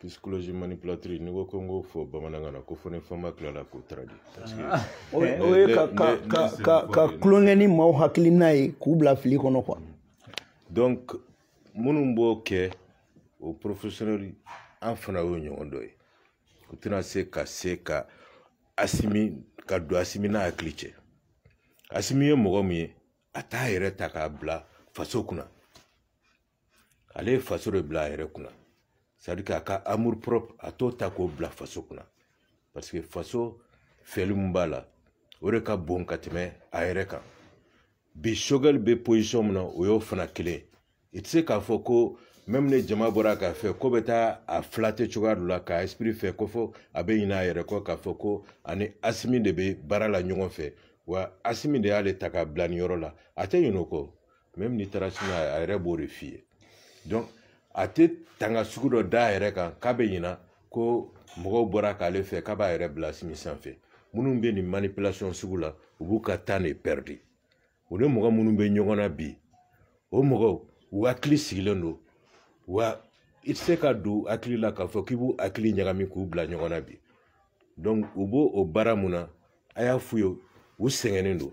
Speaker 1: psychologie manipulatrice n'i ko ko n k'o fɔ bamanankan na ko fo ni fama tilala k'o taradi o ye
Speaker 3: ka tulonkɛ ni maaw hakilina ye k'u bila fili kɔnɔ quoi donc
Speaker 1: minnu b'o kɛ o professionnel an fana y'o ɲɔgɔn dɔ ye u tɛna se ka se ka asimi ka don asimi n'a hakili cɛ asimi ye mɔgɔ min ye a t'a yɛrɛ ta k'a bila faso kunna ale ye faso de bila a yɛrɛ kunna c'est à dire k'a ka amour propre a t'o ta k'o bila faso kunna parce que faso fɛli min b'a la o de ka bon ka tɛmɛ a yɛrɛ kan bi choguel bɛ position min na o y'o fana kelen i tɛ se k'a fɔ ko même ni jama bɔra k'a fɛ k'u bɛ taa a flatter cogoya dɔ la k'a esprit fɛ ko fo a bɛ ɲinɛ a yɛrɛ kɔ k'a fɔ ko a ni asimi de bɛ baara la ɲɔgɔn fɛ wa asimi de y'ale ta k'a bila nin yɔrɔ la a tɛ ɲinɛ o kɔ même n'i taara sini a yɛrɛ b'o de f'i ye donc a tɛ tanga sugu dɔ da a yɛrɛ kan k'a bɛ ɲina ko mɔgɔw bɔra k'ale fɛ k'a b'a yɛrɛ bila asimi sanfɛ minnu bɛ nin manipulation sugu la u b'u ka temps de pɛridi u ni mɔgɔ minnu bɛ ɲɔgɔn na bi o mɔgɔw u hakili sigilen don wa i tɛ se ka don u hakili la k'a fɔ k'i b'u hakili ɲagami k'u bila ɲɔgɔn na bi donc u b'o o baara mun na a y'a f'u ye u sɛgɛnnen don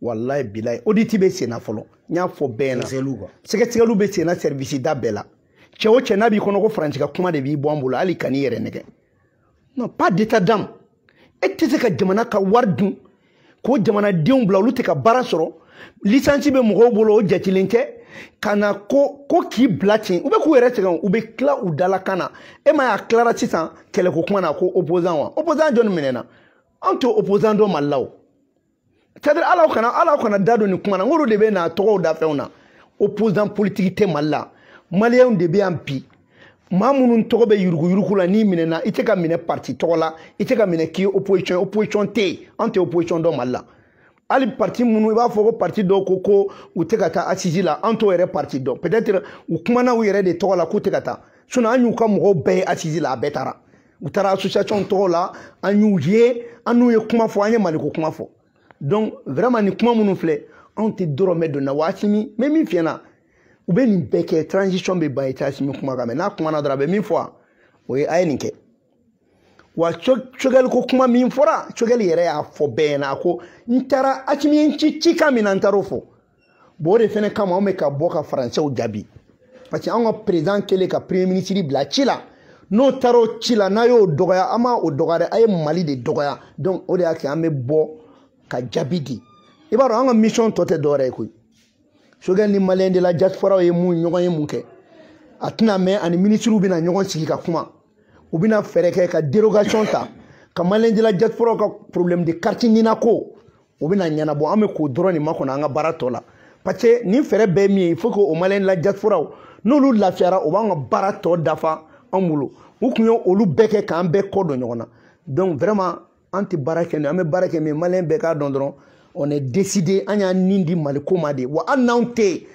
Speaker 3: walayi bilayi oditi bɛ senna fɔlɔ n y'a fɔ bɛɛ na sɛgɛsɛgɛliw bɛ senna sɛrivisi da bɛɛ la cɛ o cɛ n'a b'i kɔnɔ ko faransi ka kuma de b'i bɔ an bolo hali kan'i yɛrɛ nɛgɛn non pas d'état d'âme e tɛ se ka jamana ka wari dun ko jamanadenw bila olu tɛ ka baara sɔrɔ lisansi bɛ mɔgɔw bolo o jatilen tɛ ka na ko ko k'i bila ten u bɛ k'u yɛrɛ sɛgɛn u bɛ tila u dalakan na e m'a ye a tilara sisan kɛlɛko kuma na ko opposant wa opposant jɔn minɛna an to opposant dɔ mali la o c'est-à-dire alaw kana alaw kana da don nin kuma na n k'olu de bɛna tɔgɔ da fɛnw na opposant politique tɛ mali la maliyɛnw de bɛ yan bi maa minnu tɔgɔ bɛ yuruguyurugu la n'i minɛna i tɛ ka minɛ parti tɔgɔ la i tɛ ka minɛ k'i ye opposition opposition tɛ yen an tɛ opposition dɔn mali la hali parti minnu i b'a fɔ ko parti dɔw ko ko u tɛ ka taa asisi la an t'o yɛrɛ parti dɔn peut-être u kumana u yɛrɛ de tɔgɔ la k'u tɛ ka taa sinon an y'u ka mɔgɔw bɛɛ ye asisi la a bɛɛ taara u taara association tɔgɔ la an y'u ye an n'u ye kuma fɔ an ye maliko kuma fɔ donc vraiment nin kuma minnu filɛ anw tɛ dɔrɔmɛ don na waati min n bɛ min fiyɛ na u bɛ nin bɛɛ kɛ transition bɛ ban i tɛ asimi kumakan mɛ n'a kumana dɔrɔn a bɛ min fɔ a o ye a ye nin kɛ wa sogɛli ko kuma min fɔra sogɛli yɛrɛ y'a fɔ bɛɛ ɲɛna a ko n taara asimi ye n ci cikan min na n taar'o fɔ bon o de fɛnɛ kama anw bɛ ka bɔ ka faransɛw jaabi parce que anw ka perezan kɛlen ka premier minisiri bila ci la n'o taara o ci la n'a y'o dɔgɔya a ma o dɔgɔya dɛ a ye mali de dɔgɔya donc o de y'a kɛ an bɛ bɔ ka jaabi di i b'a dɔn an ka mission tɔ tɛ dɔwɛrɛ ye koyi sogɛl ni maliyɛn de la diasporaw ye mun ɲɔgɔnye mun kɛ a tɛna mɛn a ni minisiriw bɛna ɲɔgɔn sigi ka kuma u bɛna fɛɛrɛ kɛ ka dérogation ta ka maliyɛn de la diasporaw ka problème de carte nina ko o bɛna ɲɛnabɔ an bɛ k'o dɔrɔn de makɔnɔ an ka baara tɔ la parce que nin fɛɛrɛ bɛɛ min ye il faut que o maliyɛn la diasporaw n'olu lafiyara o b'an ka baara tɔ dafa an bolo u tun ye olu bɛɛ kɛ k'an bɛɛ kɔ don ɲɔgɔn na donc vraiment an tɛ baara kɛ an bɛ baara kɛ min maliyɛn bɛɛ k'a dɔn dɔrɔn on est décidé an y'an ni di maliko ma de wa hali n'anw tɛ yen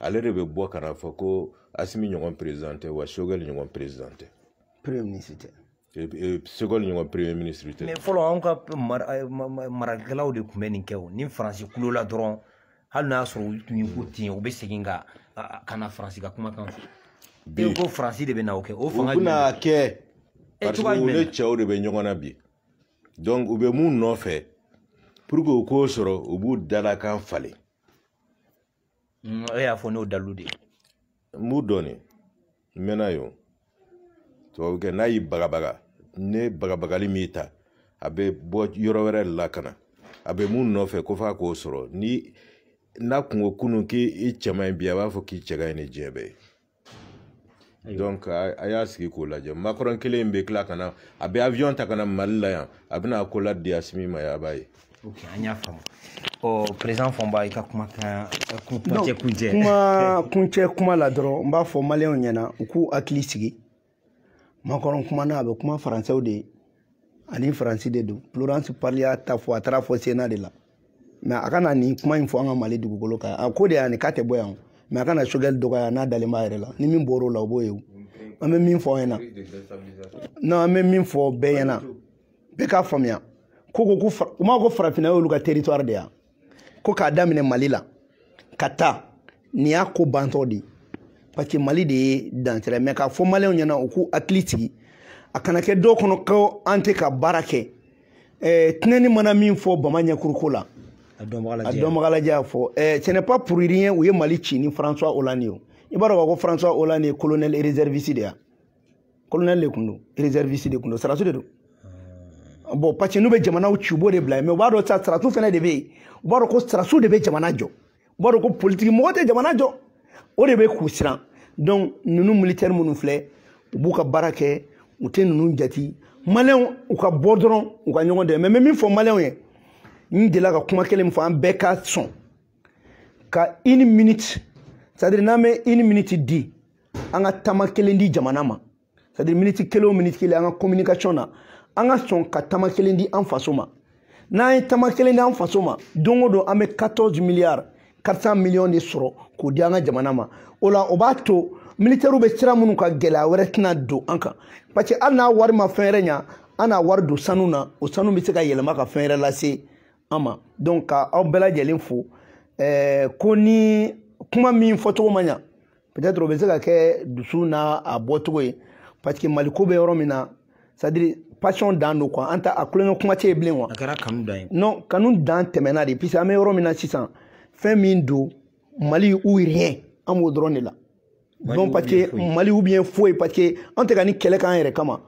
Speaker 1: ale de bɛ bɔ ka n'a fɔ ko asimi ɲɔgɔn président tɛ wa sogɛli ɲɔgɔn président tɛ
Speaker 3: premier ministre
Speaker 1: tɛ sogɛli ɲɔgɔn premier ministre tɛ mais fɔlɔ anw ka
Speaker 2: marakɛlaw de tun bɛ nin kɛ o ni faransi kulo la dɔrɔn hali n'a y'a sɔrɔ u tun ye ko ten u bɛ segin ka ka na faransi ka kumakan fɔ bi ko faransi de bɛna o kɛ o fanga jumɛn u bɛna
Speaker 1: kɛ parce que u ni cɛw de bɛ ɲɔgɔn na bi donc u bɛ mun nɔfɛ pour que u k'o sɔrɔ u b'u dalakan falen
Speaker 2: Mm, e y'a fɔ n'o dalu de ye n b'u
Speaker 1: dɔn ne n mɛnna yen tubabukɛ n'a y'i bagabaga ne bagabagali min ta a bɛ bɔ yɔrɔ wɛrɛ la ka na a bɛ mun nɔfɛ ko f'a k'o sɔrɔ ni n'a kun ko kunun k'i cɛ man ɲi bi a b'a fɔ k'i cɛ ka ɲi ni diɲɛ bɛɛ ye donc a y'a sigi k'o lajɛ makɔrɔn kelen in bɛ tila ka na a bɛ avion ta ka na mali la yan a bɛna accolade di asimi ma yan a b'a ye ok an
Speaker 2: y'a faamu ɔ président fɔnba i ka kumakan kuncɛ kuncɛ
Speaker 3: kuma kuncɛ kuma la dɔrɔn n b'a fɔ maliyɛnw ɲɛna u k'u hakili sigi macron kumana a bɛ kuma faransɛw de ye ani faransi de don florence parly y'a ta fɔ a taara fɔ sénat de la mais a kana nin kuma in fɔ an ka mali dugukolo kan a ko de y'a ni k'a tɛ bɔ yan mais a kana choguel dɔgɔya n'a dalen b'a yɛrɛ la ni min bɔr'o la o b'o ye o an bɛ min fɔ aw ɲɛna non an bɛ min fɔ bɛɛ ɲɛna bɛɛ k'a faamuya ko ko ko u m'a ko farafinna y'olu ka territoire de yan ko k'a daminɛ mali la ka taa nin y'a ko bantɔ de ye parce que mali de ye dansira mais k'a fɔ maliyɛnw ɲɛna u k'u hakili sigi a kana kɛ dɔw kɔnɔ ko an tɛ ka baara kɛ eh, tinɛni mana min fɔ bama ɲɛkuruko la a dɔnbaga lajɛ y'a fɔ eh, ce n'est pas pour rien u ye mali ci ni françois hollande ye i b'a dɔn k'a fɔ françois hollande ye colonel réserviste de ye colonel de tun don réserviste de tun don sarasiw de don bon parce que n'u bɛ jamanaw ci u b'o de bila yen mais u b'a dɔn sa sarasiw fana de bɛ yen u b'a dɔn ko sarasiw de bɛ jamana jɔ u b'a dɔn ko politiki mɔgɔ tɛ jamana jɔ o de bɛ k'u siran donc ninnu militɛri minnu filɛ u b'u ka baara kɛ u tɛ ninnu jati maliyɛnw u ka bɔ dɔrɔn u ka ɲɔgɔn dɛmɛ mais n bɛ min fɔ maliyɛnw ye n delila ka kuma kelen min fɔ an bɛɛ ka sɔn ka une minute c'est à dire n'an bɛ une minute di an ka tama kelen di jamana ma c'est à dire miniti kelen o miniti kelen an ka communication na an ka sɔn ka tama kelen di an faso ma n'an ye tama kelen di an faso ma don o don an bɛ 14 milliards 400 millions de sɔrɔ k'o di an ka jamana ma o la o b'a to militɛriw bɛ sira minnu kan gɛlɛya wɛrɛ tɛna don an kan parce que hali n'a wari ma fɛn wɛrɛ ɲa an n'a wari don sanu na o sanu bɛ se ka yɛlɛma ka fɛn wɛrɛ lase an ma donc ka aw bɛɛ lajɛlen fo ɛɛ ko ni kuma min fɔcogo ma ɲa peut-être o bɛ se ka kɛ dusu n'a a bɔcogo ye parce que mali ko bɛ yɔrɔ min na c'est à dire passion dan don quoi an ta a kulonkɛ kuma tɛ yen bilen quoi. a kɛra kanu dan ye.
Speaker 2: non kanu dan
Speaker 3: tɛmɛna de puisque an bɛ yɔrɔ min na sisan fɛn min don mali ou rien an b'o dɔrɔn de la. donc parce que mali ou bien foyi parce que an tɛ ka nin kɛlɛ k'an yɛrɛ kama.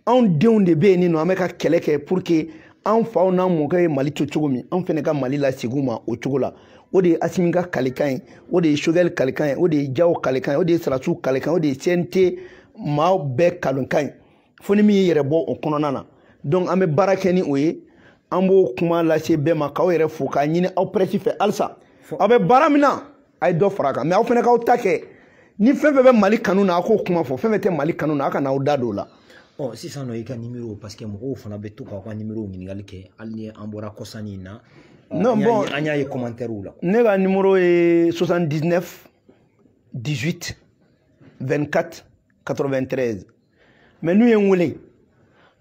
Speaker 3: anw denw de bɛ yen nin nɔ an bɛ ka kɛlɛ kɛ pour que an faw n'an mɔkɛ ye mali to cogo min an fɛnɛ ka mali lasegin u ma o cogo la o de ye assimi ka kalikan ye o de ye choguel kalikan ye o de ye diaw kalikan ye o de ye sarasiw kalikan ye o de ye cnt maaw bɛɛ kalikan ye fo ni min y'i yɛrɛ bɔ o kɔnɔna na donc an bɛ baara kɛ ni o ye an b'o kuma lase bɛɛ ma k'aw yɛrɛ fo k'a ɲini aw presse fɛ halisa aw bɛ baara min na a ye dɔ fara a kan mais aw fɛnɛ k'aw ta kɛ ni fɛn fɛn bɛ mali kanu na a k'o kuma fɔ fɛn fɛn tɛ mali kanu na a kana aw da don o la ɔ sisan nɔ i ka
Speaker 2: nimero parce que mɔgɔw fana bɛ to k'aw ka nimero ɲininkali kɛ hali ni an bɔra kɔsanni in na non
Speaker 3: bon an y'a ye commentaires
Speaker 2: la ne ka nimero
Speaker 3: ye 79 18 24 93 mais n'u ye n wele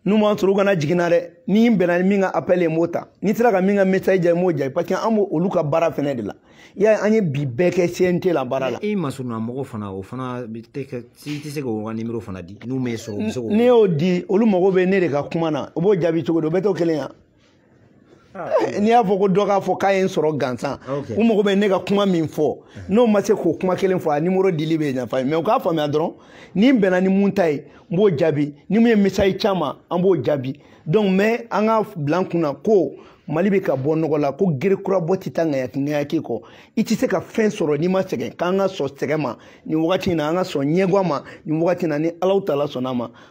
Speaker 3: n'u ma n sɔrɔ u kana jigi n na dɛ ni n bɛnna ni min ka appel ye n b'o ta ni n sera ka min ka message jaabi n b'o jaabi parce que an b'olu ka baara fɛnɛ de la i y'a ye an ye bi bɛɛ kɛ CNT la baara la. i masurunna mɔgɔ
Speaker 2: fana o fana tɛ kɛ i tɛ se k'o ka numéro fana di n'u m'e sɔrɔ u bɛ se k'o. ne y'o di olu mago bɛ ne de ka kuma na u b'o jaabi cogo di o bɛɛ t'o kelen ye wa. Ah, eh, n'i y'a fɔ ko dɔ k'a fɔ k'a ye n sɔrɔ gansan u mago bɛ ne ka kuma min fɔ n'o ma se k'o kuma kelen fɔ a numéro dili bɛ nafa ye mais u k'a faamuya dɔrɔn ni n bɛnna ni mun ta ye n b'o jaabi ni mun ye message ci an ma an b'o jaabi donc mais an k'a bila an kunna ko mali bɛ ka bɔ nɔgɔ la ko gere kura bɔ tɛ taa ŋayaki ŋayaki kɔ i tɛ se ka fɛn sɔrɔ n'i ma sɛgɛn k'an ka sɔn sɛgɛn ma nin wagati in na an ka sɔn ɲɛguwa ma nin wagati in na ni alahu taala sɔnna a ma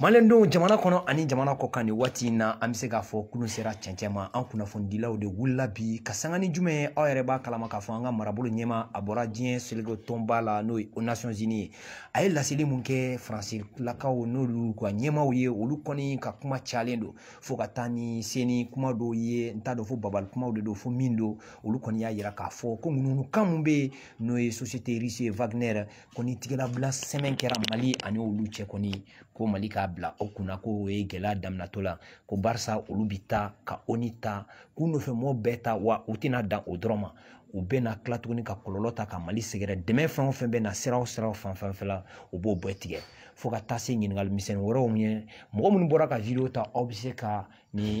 Speaker 2: maliyɛndenw jamana kɔnɔ ani jamana kɔ kan nin waati in na an bɛ se k'a fɔ kulun sera cɛncɛn ma an kunnafonidilaw de wulila bi ka sanga ni jumɛn ye aw yɛrɛ b'a kalama k'a fɔ an ka marabolo ɲɛmaa a bɔra diɲɛ seleke tɔnba la n'o ye aux nations unies ye a ye laseli mun kɛ faransilakaw n'olu ka ɲɛmaaw ye olu kɔni ka kuma cayalen don fo ka taa ni seni kuma dɔw ye n t'a dɔn fo bagabagali kumaw de don fo mun don olu kɔni y'a yira k'a fɔ ko ŋunuŋunukan mun bɛ yen n'o ye société russe ye wagner ko ni tigɛlabila sɛbɛn kɛra mali ani olu cɛ kɔni ko mali k'a bila o kunna ko o ye gɛlɛya daminɛtɔ la ko barisa olu bi taa ka ONU ta k'u nɔfɛ mɔgɔ bɛɛ ta wa u tɛna dan o dɔrɔn ma u bɛna tila tuguni ka kɔlɔlɔ ta ka mali sɛgɛrɛ dɛmɛ fɛn o fɛn bɛ na sira o sira fan fɛn fɛn la u b'o bɛɛ tigɛ fo ka taa se ɲininkali misɛnnin wɛrɛw ye mɔgɔ minnu bɔra ka video ta aw bɛ se ka nin